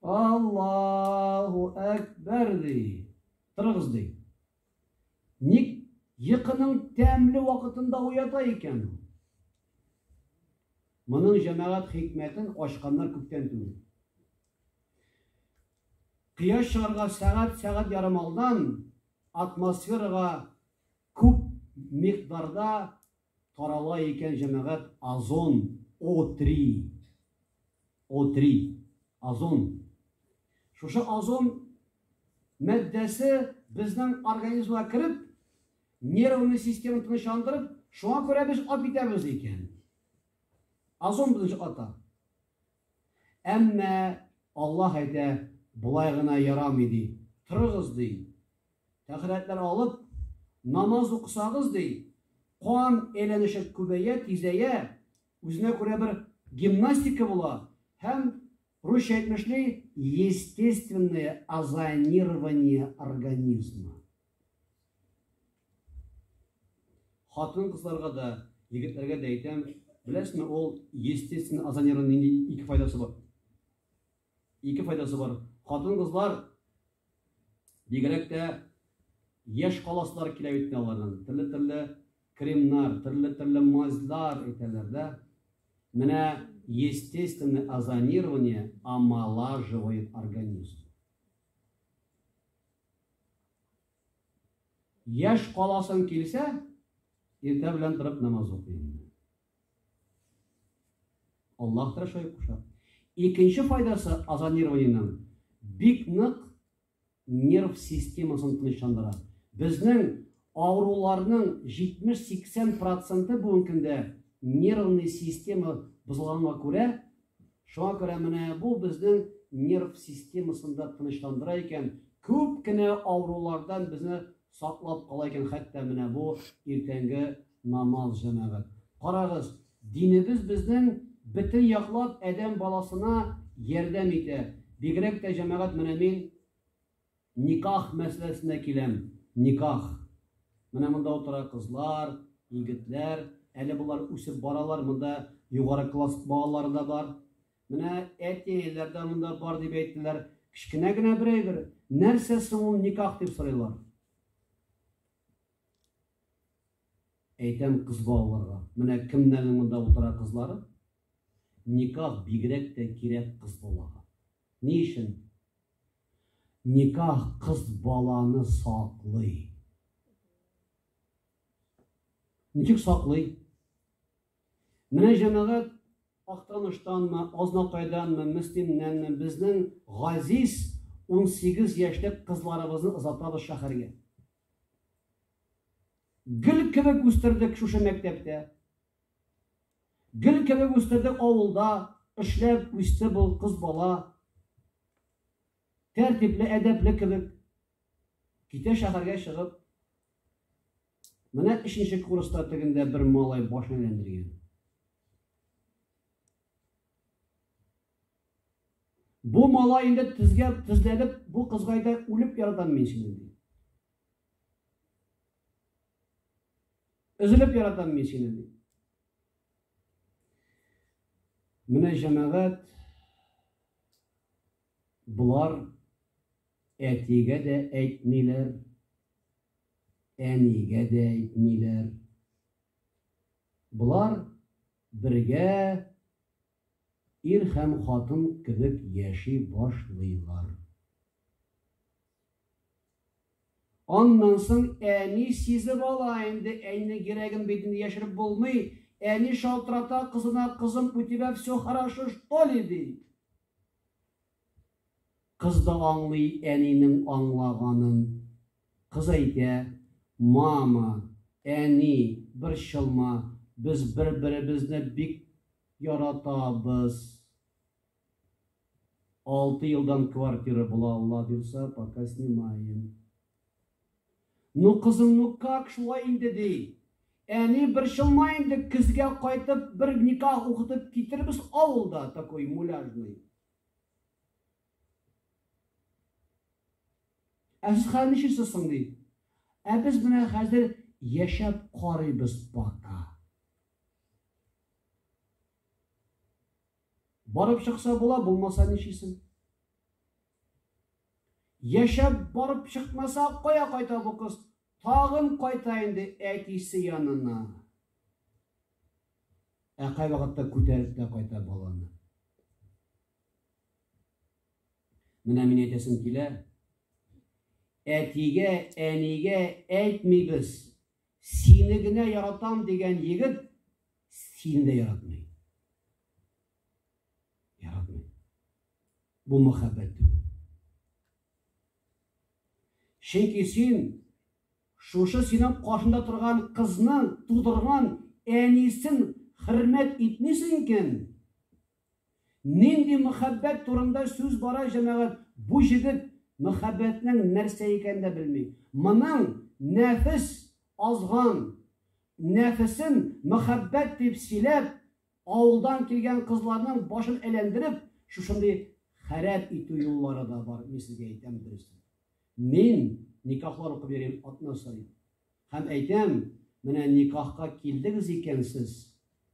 Аллаһу әкбәр ди. Торыгыз ди. Ник йокының тәмле вакытында уята икән ул? Моның җәмәгать хикмәтен ачканнар күптән түгел. Кояш чыгарга сәгать, сәгать ярым алдан атмосферага күп микъдарда Тарала икән җәмәгать Озон О-3. О-3. Озон. Шушы озон мәддәсе безнең организмга кереп, нервный системаны тынычландырып, шуңа күрә без ат итәбез икән. Озон безнең ата. Әмма Аллаһ әйтә, болай гына ярамый ди. Торыгыз ди. Тәһарәтләр алып, намаз укысагыз, ди, кан әйләнеше күбәя, тизәя, үзенә күрә бер гимнастика була һәм, русча әйтмешли, естественное озонирование организма. Хатын-кызларга да, егетләргә дә әйтәм, беләсезме, ул естественное озонирование нинди ике файдасы бар? Ике файдасы бар. Хатын-кызлар бигрәк тә яшь каласлар килә бит аларның. Төрле-төрле кремнар, төрле-төрле мазьлар әйтәләр дә. Менә естественное озонирование омолаживает организм. Яш каласын килсә, иртә белән торып намаз укый. Аллаһ та шулай куша. Икенче файдасы озонированиенең бик нык нерв системасын тынычландыра. Безнең авыруларның 70-80 проценты бүгенге көндә нервный система бозылганга күрә Шуңа күрә менә бу безнең нерв системасын да тынычландыра икән, күп кенә авырулардан безне саклап кала икән хәтта менә бу иртәнге намаз җәмәгать. Карагыз, динебез безнең бөтен яклап адәм баласына ярдәм итә, бигрәк тә җәмәгать менә мин, Никах мәсьәләсенә киләм. Никах. Менә монда утыра кызлар, егетләр. Әле болар үсеп баралар. Монда югары класс балалары да бар. Менә әти-әниләр дә монда бар дип әйттеләр. Кечкенә генә бер әйбер. Нәрсә соң ул никах дип сорыйлар? Әйтәм кыз балаларга. Менә кемнәрнең монда утыра кызлары? Никах бигрәк тә кирәк кыз балага. Ни өчен? Никах кыз баланы саклый. Ничек саклый? Менә җәмәгать Актаныштанмы, Азнакайданмы, Мөслимнәнме безнең газиз 18 яшьлек кызларыбызны озатабыз шәһәргә. Гөл кебек үстердек шушы мәктәптә. Гөл кебек үстердек авылда, эшләп үсте бу кыз бала. Тәртипле, әдәпле кебек. Китә шәһәргә чыгып. Менә өченче курста тегендә бер малай башын әйләндергән. Бу малай инде тезгә тезләнеп, бу кызгайда үлеп яратам мин сине. Өзелеп яратам мин сине, ди. Менә җәмәгать болар әтигә дә әйтмиләр, әнигә дә әйтмиләр. Болар бергә ир һәм хатын кебек яши башлыйлар. Аннан соң әни сизеп ала инде, әйнең йөрәген бит инде яшереп булмый, әни шалтырата кызына, кызым, у тебя все хорошо что ли, ди. Кыз да аңлый әнинең аңлаганын. Кыз әйтә, мама, әни, борчылма, без бер-беребезне бик яратабыз. Алты елдан квартира була алла бирса, пока снимаем. Ну кызым, ну как шулай инде ди. Әни борчылма инде, көзгә кайтып бер никах укытып китербез авылда такой муляжный. Ә сез хәзер ничисез соң ди. Ә без менә хәзер яшәп карыйбыз пока. Барып чыкса була, булмаса ничисен? Яшәп барып чыкмаса, кая кайта бу кыз? Тагын кайта инде әтисе янына. Ә кай вакытта күтәреп тә кайта баланы. Менә мин әйтәсем килә. Әтигә, әнигә әйтмибез. Сине генә яратам дигән егет сине дә яратмый. Яратмый. Бу мәхәббәт түгел. Чөнки син шушы синең каршында торган кызны тудырган әнисен хөрмәт итмисең икән, Нинди мөхәббәт турында сүз бара җәмәгать, бу җегет мөхәббәтнең нәрсә икәнен дә белми. Моның нәфес азган, нәфесен мөхәббәт дип сөйләп, авылдан килгән кызларның башын әйләндереп, шушындый хәрәп итү юллары да бар, мин сезгә әйтәм дөресен. Мин никахлар укып йөрим атна саен. Һәм әйтәм, менә никахка килдегез икән сез,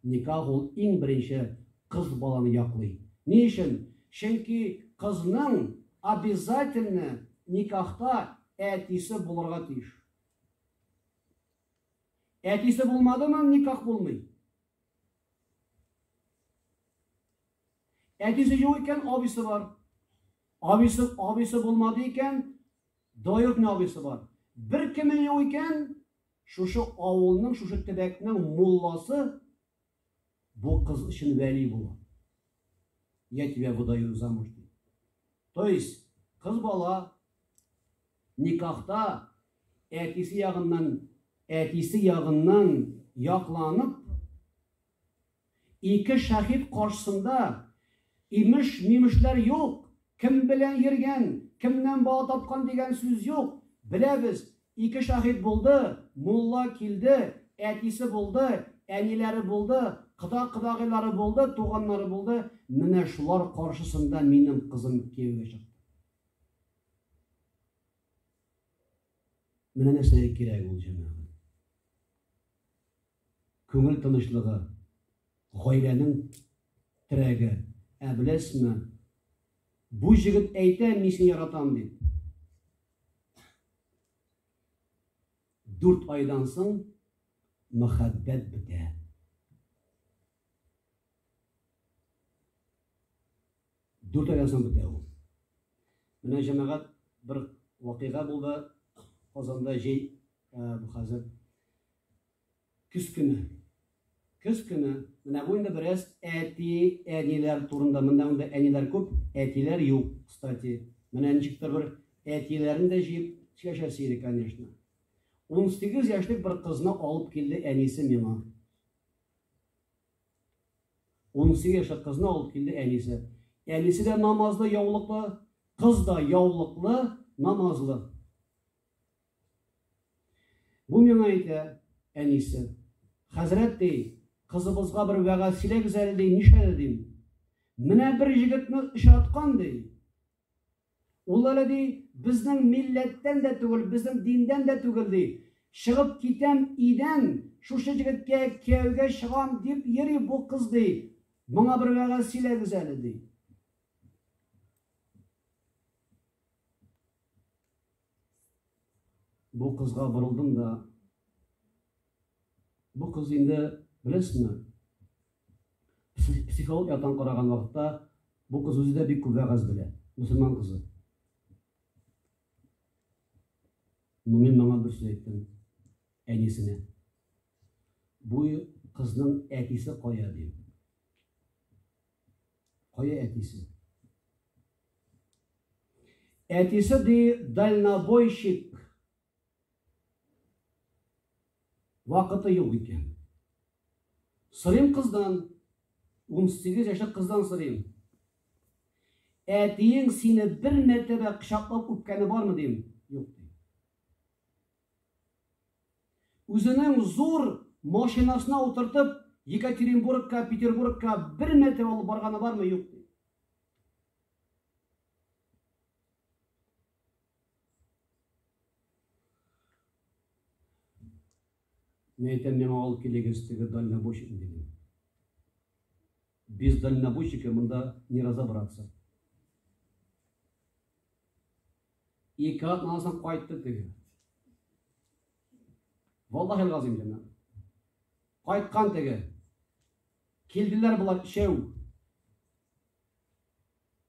никах ул иң беренче кыз баланы яклый. Ни өчен? Чөнки кызның обязательно никахта әтисе булырга тиеш. Әтисе булмадымы, никах булмый. Әтисе юк икән, абисы бар. Абисы, абисы булмады икән, Доют не абыйсы бар. Бер кеме юк икән, шушы авылның, шушы төбәкнең мулласы бу кыз өчен вәли була. Я тебя выдаю замуж. То есть, кыз бала никахта әтисе ягыннан, әтисе ягыннан якланып, Ике шәһит каршысында имеш-мимешләр юк, кем белән йөргән, кемнән бала тапкан дигән сүз юк. Беләбез, ике шәһит булды, мулла килде, әтисе булды, әниләре булды, кода-кодагыйлары булды, туганнары булды, менә шулар каршысында минем кызым кияүгә чыкты. Менә нәрсәләр кирәк ул җәмәгать. Күңел тынычлыгы, гаиләнең терәге. Ә беләсезме, бу җегет әйтә, мин сине яратам дип. Дүрт айдан соң мәхәббәт бетә. Дүрт айдан соң бетә ул. Менә җәмәгать бер вакыйга булды Казанда җәй бу хәзер көз көне. Көз көне менә бу инде бераз әти, әниләр турында. Монда монда әниләр күп, әтиләр юк, кстати. Менә ничек тә бер әтиләрен дә җыеп сөйләшәсе иде, конечно. 18 яшьлек бер кызны алып килде әнисе миңа. Унсигез яшьлек кызны алып килде әнисе. Әнисе дә намазлы, яулыклы, кыз да яулыклы, намазлы. Бу миңа әйтә әнисе. Хәзрәт ди, кызыбызга бер вәгазь сөйләгез әле ди, нишләде дим. Менә бер җегетне очраткан ди. Ул әле, ди, безнең милләттән дә түгел, безнең диндән дә түгел, ди. Чыгып китәм идән, шушы җегеткә кияүгә чыгам дип йөри бу кыз, ди. Моңа бер вәгазь сөйләгез әле, ди. Бу кызга борылдым да, бу кыз инде, беләсезме, Психолог яктан караган вакытта бу кыз үзе дә бик күп вәгазь белә. Мөселман кызы. Ну мин моңа бер сүз әйттем. Әнисенә. Бу кызның әтисе кая дим. Кая әтисе? Әтисе ди дальнобойщик Вакыты юк икән. Сорыйм кыздан, 18 яшьлек кыздан сорыйм. Әтиең сине бер мәртәбә кочаклап үпкәне бармы дим? Юк ди. Үзенең зур машинасына утыртып Екатеринбургка, Петербургка бер мәртәбә алып барганы бармы? Юк ди. Мин әйтәм, миңа алып килегез теге дальнобойщикны дидем. Без дальнобойщики монда не разобраться. Ике атнан соң кайтты теге. Валлахи газим димә. Кайткан теге. Килделәр болар өчәү.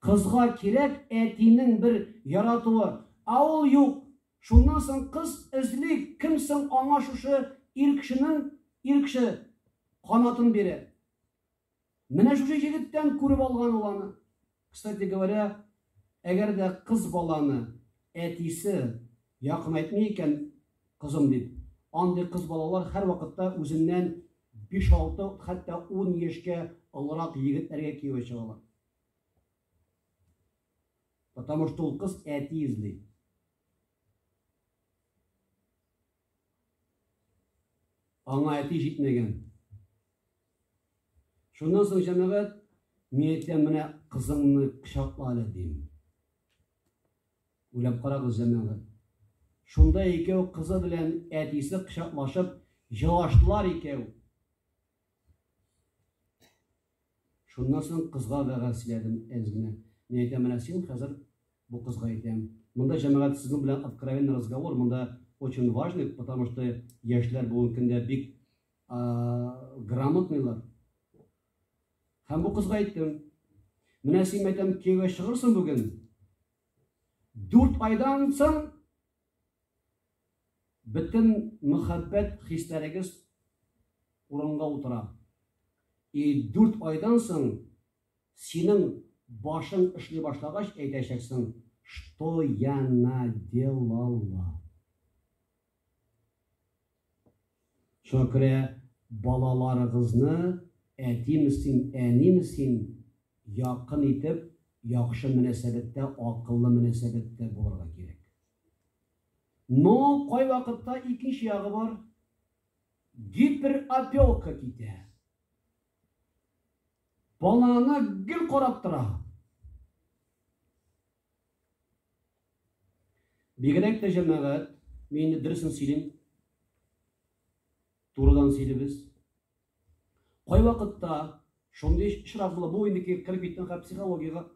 Кызга кирәк әтинең бер яратуы, а ул юк. Шуннан соң кыз эзли, кем соң аңа шушы ир кешенең, ир кеше, канатын бирер. Менә шушы җегеттән күреп алган ул аны. Кстати говоря, әгәр дә кыз баланы әтисе якынайтмый икән, кызым дип, андый кыз балалар һәрвакытта үзеннән Биш-алты, хәтта ун яшькә олырак егетләргә кияүгә чыгалар. Потому что ул кыз әти эзли. Аңа әти җитмәгән. Шуннан соң җәмәгать, мин әйтәм, менә кызыңны кочакла әле дим. Уйлап карагыз, җәмәгать. Шунда икәү кызы белән әтисе кочаклашып җылаштылар икәү. Шуннан соң кызга вәгазь сөйләдем әз генә. Мин әйтәм, менә син хәзер бу кызга әйтәм. Монда җәмәгать сезнең белән откровенный разговор, монда очень важный, потому что яшьләр бүгенге көндә бик грамотныйлар. Һәм бу кызга әйттем, менә син мәйтәм кияүгә чыгырсың бүген. Дүрт айдан соң бөтен мөхәббәт хисләрегез урынга утыра. И дүрт айдан соң синең башың эшли башлагач әйтәчәксең, что я наделала. Шакирә, балаларыгызны әтиме син, әниме син, якын итеп, яхшы мөнәсәбәттә, акыллы мөнәсәбәттә булырга кирәк. Но кайвакытта икенче ягы бар, гиперопека китә. Баланы гел карап тора. Бигрәк тә җәмәгать, мин инде дөресен сөйлим, турыдан сөйлибез. Кайвакытта шундый очрак була, бу инде кереп киткән хәл психологиягә.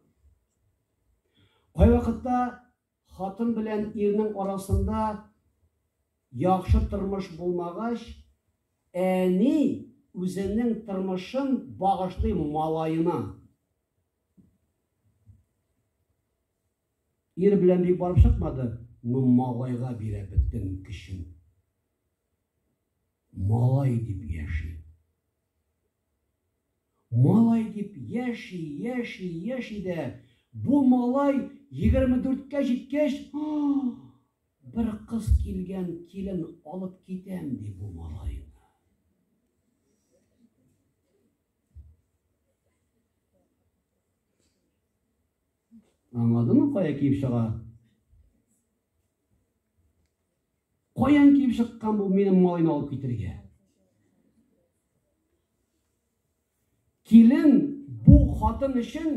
Кайвакытта хатын белән ирнең арасында яхшы тормыш булмагач, әни үзенең тормышын багышлый малаена. Ир белән бик барып чыкмады. Ну, малайга бирә бөтен көчен. Малай дип яши. Малай дип яши, яши, яши дә. Бу малай 24-кә җиткәч, бер кыз килгән, килен алып китәм ди бу малайны. Аңладыңмы, кая киеп чыга? Каян киеп чыккан бу минем малайны алып китергә? Килен бу хатын өчен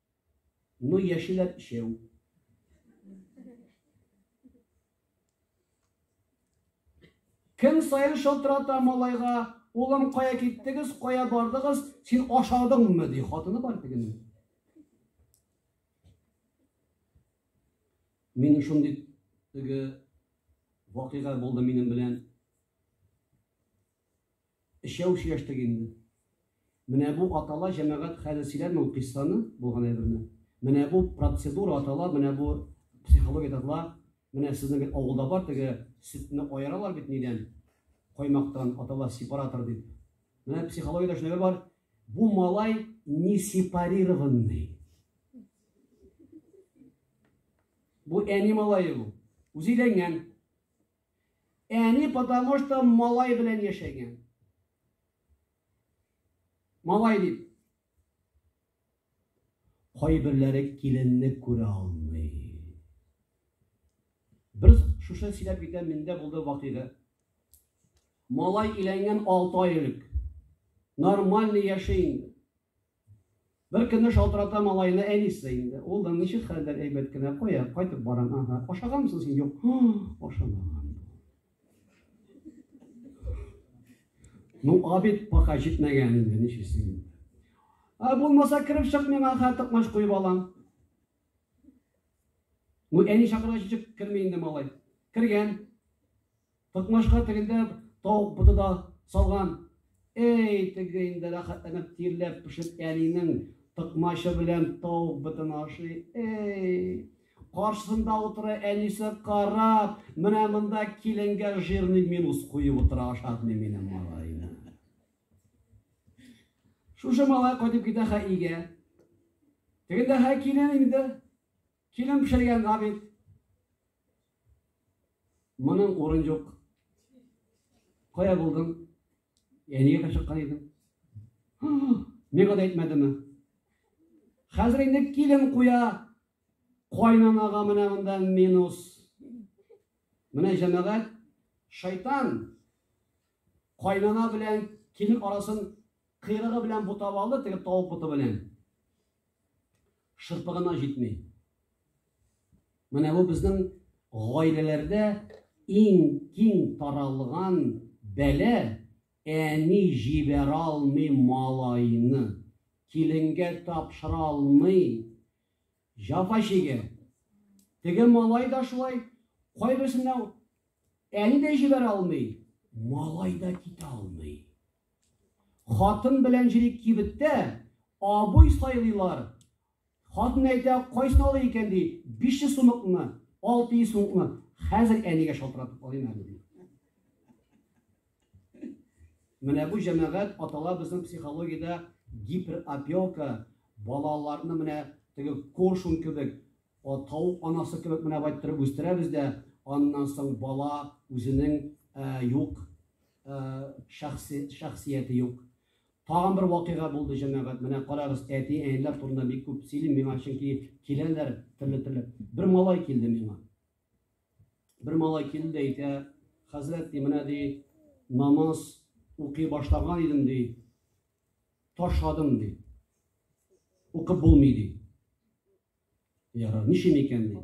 Ну яшиләр өчәү. Көн саен шылтырата малайга, улым кая киттегез, кая бардыгыз, син ашадыңмы, ди хатыны бар тегенең. Мин шундый теге вакыйга булды минем белән. Өчәү сөйләштек инде. Менә бу атала, җәмәгать, хәзер сөйләмим ул кыйссаны, булган әйберне. Менә бу процедура атала, менә бу психология татла, менә сезнең бит авылда бар теге сөтне аералар бит нидән, каймактан, атала сепаратор дип. Менә психологиядә шундый бер бар, бу малай не сепарированный. Бу әни малае бу. Үзе өйләнгән. Әни потому что малай белән яшәгән. Малай дип. Кайберләре киленне күрә алмый. Бер шушы сөйләп китә миндә булды вакыйга. Малай иләнгән 6 ай элек. Нормально яши инде. Бер көнне шалтырата малайына әнисе инде. Улым, ничек хәлләр әйбәт кенә? Кая кайтып барам? Ага. Ашаганмсың син? Юк. Ашамаган. Ну, абит пока җитмәгән инде, ничесе инде. А булмаса кереп чык миңа хә токмаш куеп алам. Ну, әни чакыргач чык керми инде малай. Кергән. Токмашка тегендә тавык боты да салган. Эй, теге инде рәхәтләнеп тирләп пешеп әнинең токмачы белән тавык бытын ашый. Эй, каршысында утыра әнисе карап, менә монда киленгә жирный минус куеп утыра ашатмый минем малайны. Шушы малай кайтып китә хәйгә. Тегендә хәй килен инде. Килен пешергән габит. Моның урын юк. Кая булдың? Әнигә чыккан идең. Миңа да әйтмәдеме? Хәзер инде килен куя. Кайнанага менә монда минус. Менә җәмәгать шайтан кайнана белән килен арасын кыйрыгы белән бутап алды, теге тавык буты белән. Шырпы гына җитми. Менә бу безнең гаиләләрдә иң киң таралган бәлә әни җибәрә алмый малайны, киленгә тапшыра алмый, җафа чигә. Теге малай да шулай, кайберсенә әни дә җибәрә алмый, малай да китә алмый. Хатын белән җире кибеттә, абый сайлыйлар. Хатын әйтә, кайсын алыйк икән, ди, биш йөз сумыкмы, алты йөз сумыкмы, хәзер әнигә шалтыратып алыйм әле, ди. Менә бу җәмәгать атала безнең психологиядә гиперопека, балаларны менә теге коршун кебек, атау анасы кебек менә байтырып үстерәбез дә, аннан соң бала үзенең юк шәхси шәхсияте юк. Тагын бер вакыйга булды, җәмәгать. Менә карагыз, әти, әниләр турында бик күп сөйлим миңа, чөнки киләләр төрле-төрле. Бер малай килде миңа. Бер малай килде дә әйтә, хәзрәт, ди, менә ди, намаз укый башлаган идем, ди, ташладым, ди. Укып булмый, ди. Яра, ничем икән, ди.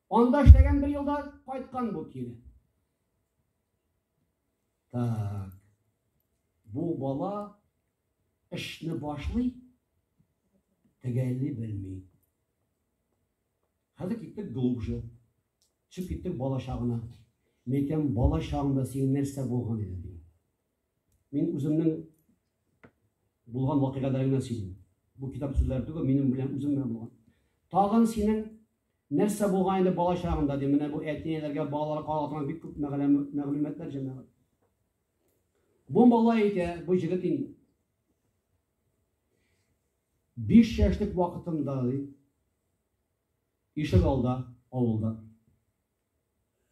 Анда эшләгән бер елда кайткан бу кире. Так. Бу бала эшне башлый, тегәлли белми. Хәзер киттек глубже. Чүп киттек балачагына. Мекем балачагында син нәрсә булган иде? Мин үземнең булган вакыйгаларны генә сөйлим. Бу китап сүзләре түгел, минем белән үзем белән булган. Тагын синең нәрсә булган инде бала чагында ди, менә бу әтиләргә балалар калган бик күп мәгълүматлар җәмәгать. Бу бала итә, бу җегет инде. 5 яшьлек вакытында ди, ишек алда, авылда.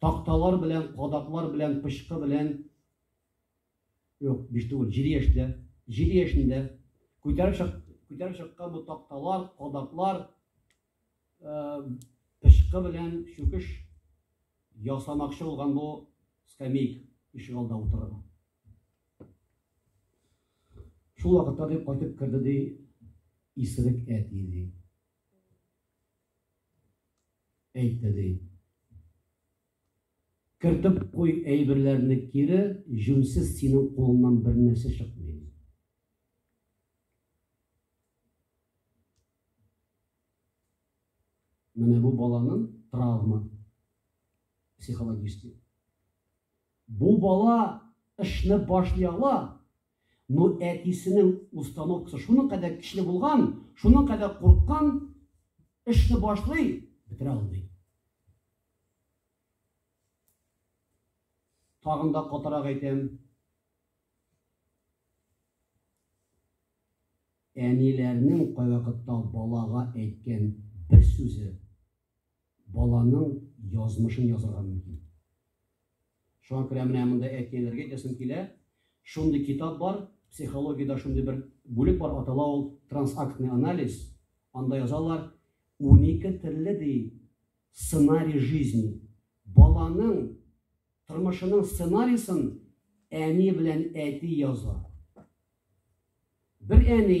Такталар белән, кадаклар белән, пычкы белән, юк, биш түгел, җиде яшьтә, җиде яшендә күтәреп чык, күтәреп чыккан бу такталар, кадаклар, э, пычкы белән чүкеш ясамакчы булган бу скамейка ишек алдында утырган. Шул вакытта дип кайтып керде ди исерек әти ди. Әйтте ди. Кертеп куй әйберләрне кире, җүнсез синең кулыңнан бер нәрсә чыкмый. Менә бу баланың травма психологический. Бу бала эшне башлый ала, но әтисенең установкасы шуның кадәр көчле булган, шуның кадәр курыккан, эшне башлый, бетерә алмый. Тагын да катырак әйтәм. Әниләрнең кайвакытта балага әйткән бер сүзе Баланың язмышын язырга мөмкин. Шуңа күрә менә монда әтиләргә әйтәсем килә, шундый китап бар, психологиядә шундый бер бүлек бар, атала ул трансактный анализ. Анда язалар, унике төрле ди сценарий жизни. Баланың тормышының сценарийсын әни белән әти яза. Бер әни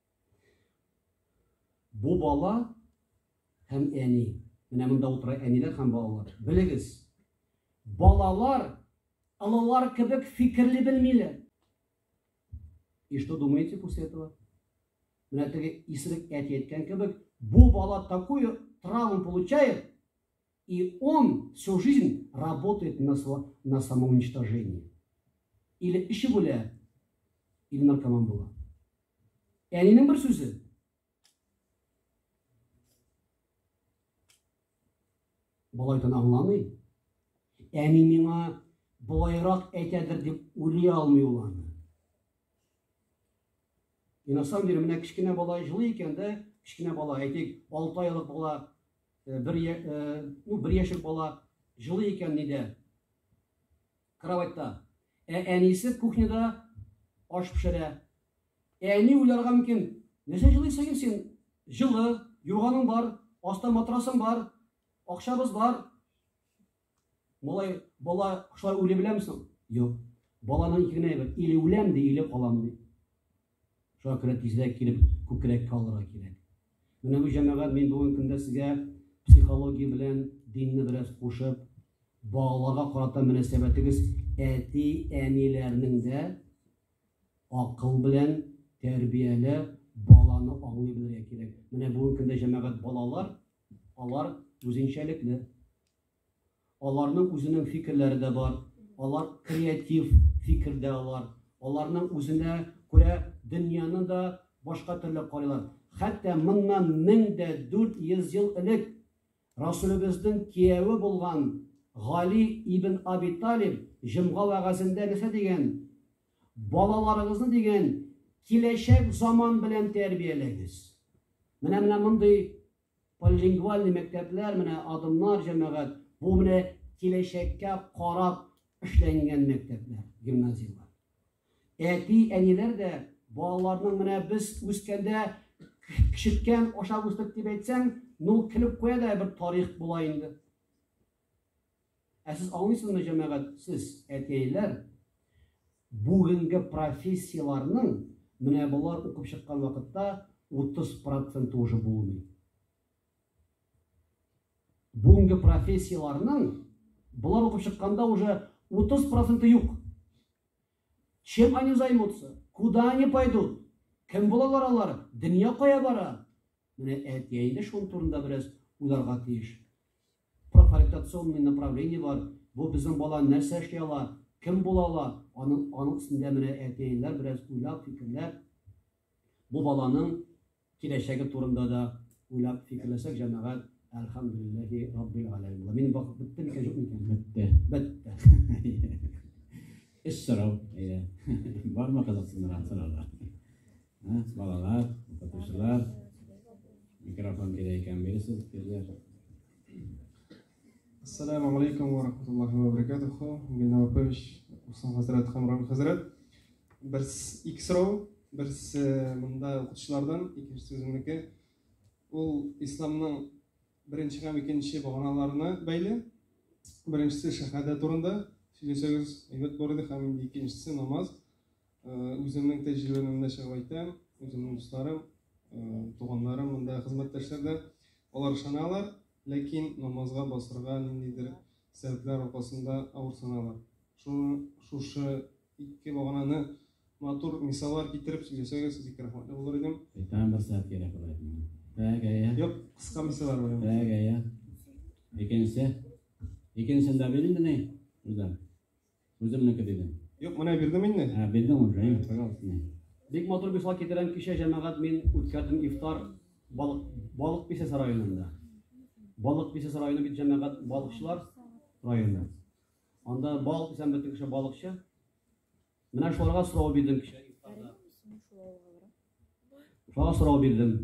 Бу бала һәм әни. Менә монда утыра әниләр һәм балалар. Белегез, балалар алалар кебек фикерли белмиләр. И что думаете после этого? Менә теге исерек әти әйткән кебек, бу бала такую травму получает, И он всю жизнь работает на на самоуничтожение. Или эчеп үлә, или наркоман була. Әнинең бер сүзе. Балайтын аңламый. Әни миңа болайрак әйтәдер дип уйлый алмый ул аны. И на самом деле, менә кечкенә бала җылы икән дә, кечкенә бала, әйтик, 6 айлык бала, э, бер, э, ну, бер яшек бала җылы икән нидә? Кроватьта. Ә әнисе кухняда аш пешерә. Әни уйларга мөмкин, нәрсә җылыйсың син? Җылы, юрганың бар, аста матрасың бар, акчабыз бар. Малай, бала шулай үле беләме соң? Юк. Баланың ике генә әйбер, иле үләм ди, иле калам ди. Шуңа күрә тизрәк килеп күкрәккә алырга кирәк. Менә бу җәмәгать мин бүген көндә сезгә психология белән динне бераз кушып, балаларга карата мөнәсәбәтегез әти, әниләрнең дә акыл белән тәрбияле баланы аңлый белергә кирәк. Менә бүген көндә җәмәгать балалар Алар үзенчәлекле. Аларның үзенең фикерләре дә бар. Алар креатив фикердә алар. Аларның үзенә күрә дөньяны да башка төрле карыйлар. Хәтта моннан 1400 ел элек Расулебезнең кияве булган Гали ибн Аби Талиб җомга вәгазендә нәрсә дигән? Балаларыгызны дигән киләчәк заман белән тәрбияләгез. Менә менә мондый полилингвальный мәктәпләр, менә адымнар, җәмәгать, бу менә киләчәккә карап эшләнгән мәктәпләр, гимназияләр. Әти, әниләр дә балаларның менә без үскәндә кешеткән ашап үстек дип әйтсәң, ну килеп куя да бер тарих була инде. Ә сез аңлыйсызмы, җәмәгать, сез, әтиәйләр, бүгенге профессияләрнең менә болар укып чыккан вакытта 30 проценты уже булмый. Бүгенге профессияләрнең болар укып чыкканда уже 30 проценты юк. Чем они займутся? Куда они пойдут? Кем булалар алар? Дөнья кая бара? Менә әтиәйле шул турында бераз уйларга тиеш. Профориентационный направление бар, бу безнең бала нәрсә эшли ала, кем була ала, аның аның өстендә менә әти-әниләр бераз уйлап, фикерләп, бу баланың киләчәге турында да уйлап, фикерләсәк, җәмәгать, әлхәмдүлилләһи раббил галәмин була. Минем вакыт бетте микән, юк микән? Бетте. Бетте. Эш сорау, әйе. Бармы кызыксындырган сораулар? Балалар, укытучылар, микрофон кирәк икән бирсез, кирәк. Ассаламу алейкум ва рахматуллахи ва баракатуху. Генә Лапович, Усман хәзрәт һәм Рам хәзрәт. Бер икс рау, бер монда укытучылардан, икенче сүземнеке. Ул исламның беренче һәм икенче баганаларына бәйле. Беренчесе шәһәдә турында сөйләсәгез, әйбәт булыр иде, һәм икенчесе намаз. Үземнең тәҗрибәмне чыгып әйтәм, үземнең дусларым, туганнарым монда хезмәттәшләр дә алар ышаналар, ләкин намазга басырга ниндидер сәбәпләр аркасында авырсаналар. Шуны шушы ике багананы матур мисаллар китереп сөйләсәгез, бик рәхмәтле булыр идем. Тәм бер сәгать кирәк була идем. Тәгәя. Юк, кыска мисаллар бар. Тәгәя. Икенче. Икенчендә бирелде ни? Үзләр. Үземнеке дидем. Юк, менә бирдем инде. Ә, бирдем уже, әйе, пожалуйста. Бик матур мисал китерәм, кичә җәмәгать мин үткәрдем ифтар балык балык писәс районында. Балык писәс районы бит җәмәгать балыкчылар районы. Анда балык писәм бөтен кеше балыкчы. Менә шуларга сорау бирдем кичә ифтарда. Шуларга сорау бирдем.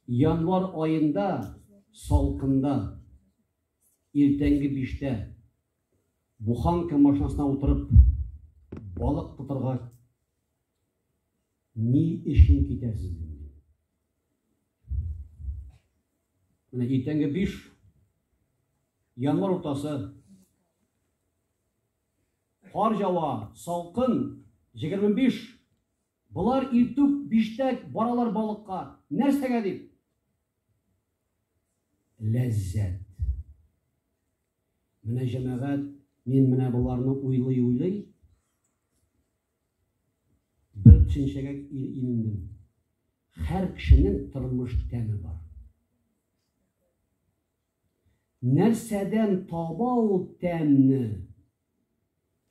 Январ аенда салкында Иртәнге биштә буханка машинасына утырып балык тотарга ни өчен китәсез? Менә иртәнге биш январ уртасы кар жава, салкын, 25 Болар иртүк биштәк баралар балыкка. Нәрсәгә дип? Ләззәт. Менә җәмәгать, мин менә боларны уйлый-уйлый бер төшенчәгә илендем. Һәр кешенең тормыш тәме бар. Нәрсәдән таба ул тәмне?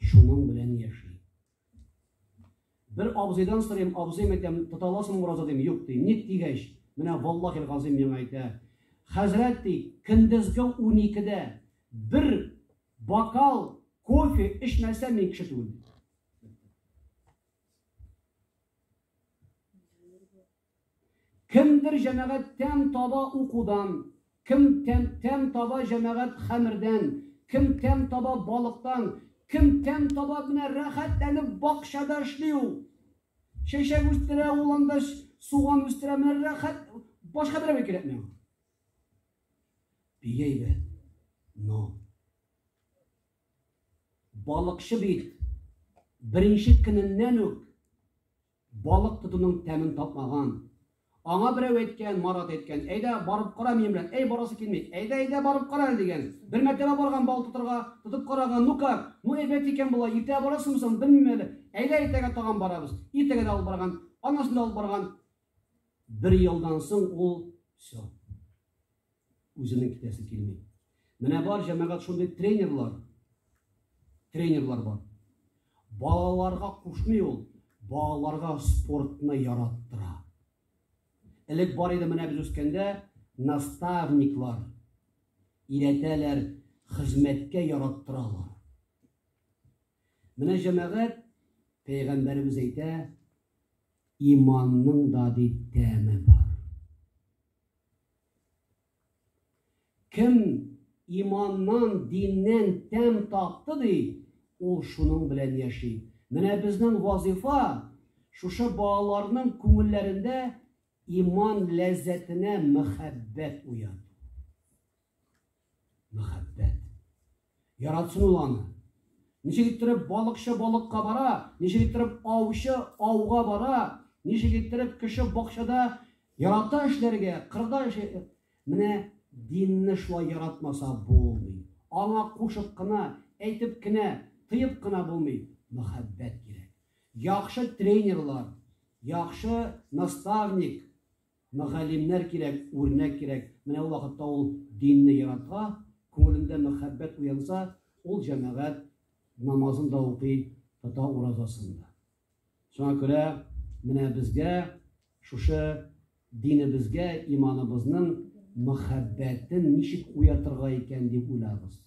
Шуның белән яши. Бер абзыйдан сорыйм, абзый, мәктәп тота аласыңмы ураза, дим, юк, ди. Ник дигәч, менә валлахил газыйм миңа әйтә, хәзрәт, ди, көндезге уникедә бер бокал кофе эчмәсә мин кеше түгел. Кемдер җәмәгать тәм таба укудан, кем тәм тәм таба җәмәгать хәмердән, кем тәм таба балыктан, кем тәм таба менә рәхәтләнеп бакчада эшли ул. Чәчәк үстерә ул анда, суган үстерә, менә рәхәт, башка берәүгә кирәкми аңа. Бик әйбәт. Но балыкчы бит беренче көненнән үк Балык тотуның тәмен татмаган. Аңа берәү әйткән, Марат әйткән, әйдә, барып кара минем белән. Әй, барасы килми. Әйдә, әйдә, барып кара әле, дигән. Бер мәртәбә барган балык тотарга, тотып караган, ну как, ну әйбәт икән болай, иртәгә барырсыңмы соң, белмим әле. Әйдә, иртәгә тагын барабыз. Иртәгә дә алып барган, аннан соң да алып барган. Бер елдан соң ул, все. Үземнең китәсе килми. Менә бар җәмәгать шундый тренерлар. Тренерлар бар. Балаларга кушмый ул, балаларга спортны яраттыра. Элек бар иде менә без үскәндә наставниклар иретәләр, хезмәткә яраттыралар. Менә җәмәгать пәйгамбәребез әйтә, иманның да дип тәме бар. Кем иманнан, диннән тәм татты ди, ул шуның белән яши. Менә безнең вазифа шушы балаларның күңелләрендә иман ләззәтенә мәхәббәт уяту. Мәхәббәт. Яратсын ул аны. Ничек иттереп балыкчы балыкка бара, ничек иттереп аучы ауга бара, ничек иттереп кеше бакчада ярата эшләргә, кырда эшли. Менә динне шулай яратмаса булмый. Аңа кушып кына, әйтеп кенә, тыеп кына булмый. Мәхәббәт кирәк. Яхшы тренерлар, яхшы наставник, Мөгаллимнәр кирәк, үрнәк кирәк. Менә ул вакытта ул динне ярата, күңелендә мәхәббәт уянса, ул җәмәгать намазын да укый, тота уразасын да. Шуңа күрә менә безгә шушы динебезгә иманыбызның мәхәббәтен ничек уятырга икән дип уйлагыз.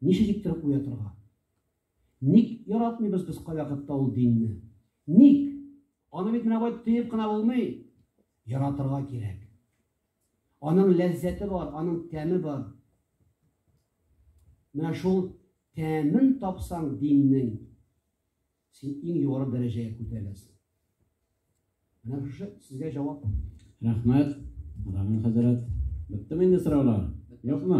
Ничек иттереп уятырга? Ник яратмыйбыз без кайвакытта ул динне? Ник? Аны бит менә бай тыеп кына булмый. Яратырга кирәк. Аның ләззәте бар, аның тәме бар. Менә шул тәмен тапсаң диннең, син иң югары дәрәҗәгә күтәреләсең. Менә шушы сезгә җавап. Рәхмәт, Рамил хәзрәт. Беттеме инде сораулар? Юкмы?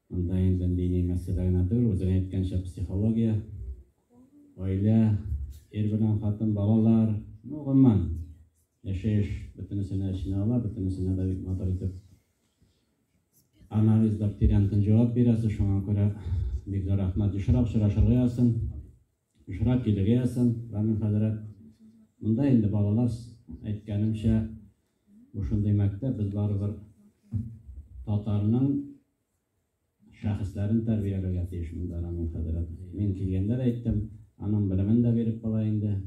Анда инде дини мәсьәлә генә түгел, үзең әйткәнчә психология, гаилә, ир белән хатын, балалар, ну, гомумән, яшәеш бөтенесенә эченә ала, бөтенесенә дә бик матур итеп анализлап тирәнтен җавап бирәсе, шуңа күрә бик зур рәхмәт. Ешрак очрашырга язсын. Очрак килгеясын, Рамил хәзрәт. Монда инде балалар әйткәнемчә, бу шундый мәктәп, без барыбер татарның шәхесләрен тәрбияләргә тиеш монда, Рамил хәзрәт. Мин килгәндә дә әйттем, аның белемен дә биреп була инде.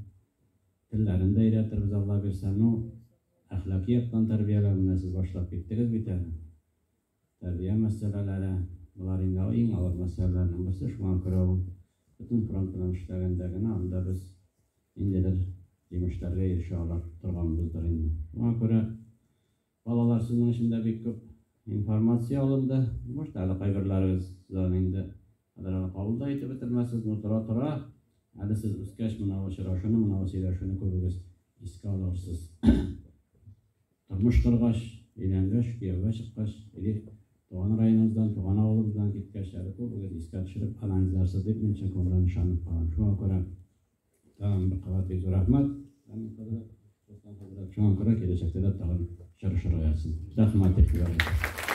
Телләрен дә өйрәтербез, Алла бирсә. Ну, әхлакый яктан тәрбияләү менә сез башлап киттегез бит әле. Тәрбия мәсьәләләре, болар инде иң авыр мәсьәләләрнең берсе, шуңа күрә ул бөтен фронт белән эшләгәндә генә анда без ниндидер җимешләргә ирешә ала торганбыздыр инде. Шуңа күрә балалар сезнең өчен дә бик күп информация алынды. Может, әле кайберләрегез сездән инде хәзер әле кабул да итеп бетермәсез, но тора-тора әле сез үскәч мына очрашуны, мына сөйләшүне күбегез искә алырсыз. Тормыш коргач, өйләнгәч, кияүгә чыккач, или туган районыбыздан, туган авылыбыздан киткәч, әле күбегез искә төшереп анализларсыз дип, мин чын күңелдән ышанып калам. Шуңа күрә тагын бер кабат бик зур рәхмәт, Камил хәзрәт, Руслан хәзрәт. Шуңа күрә киләчәктә дә тагын очрашырга язсын. Рәхмәт, дип языйк.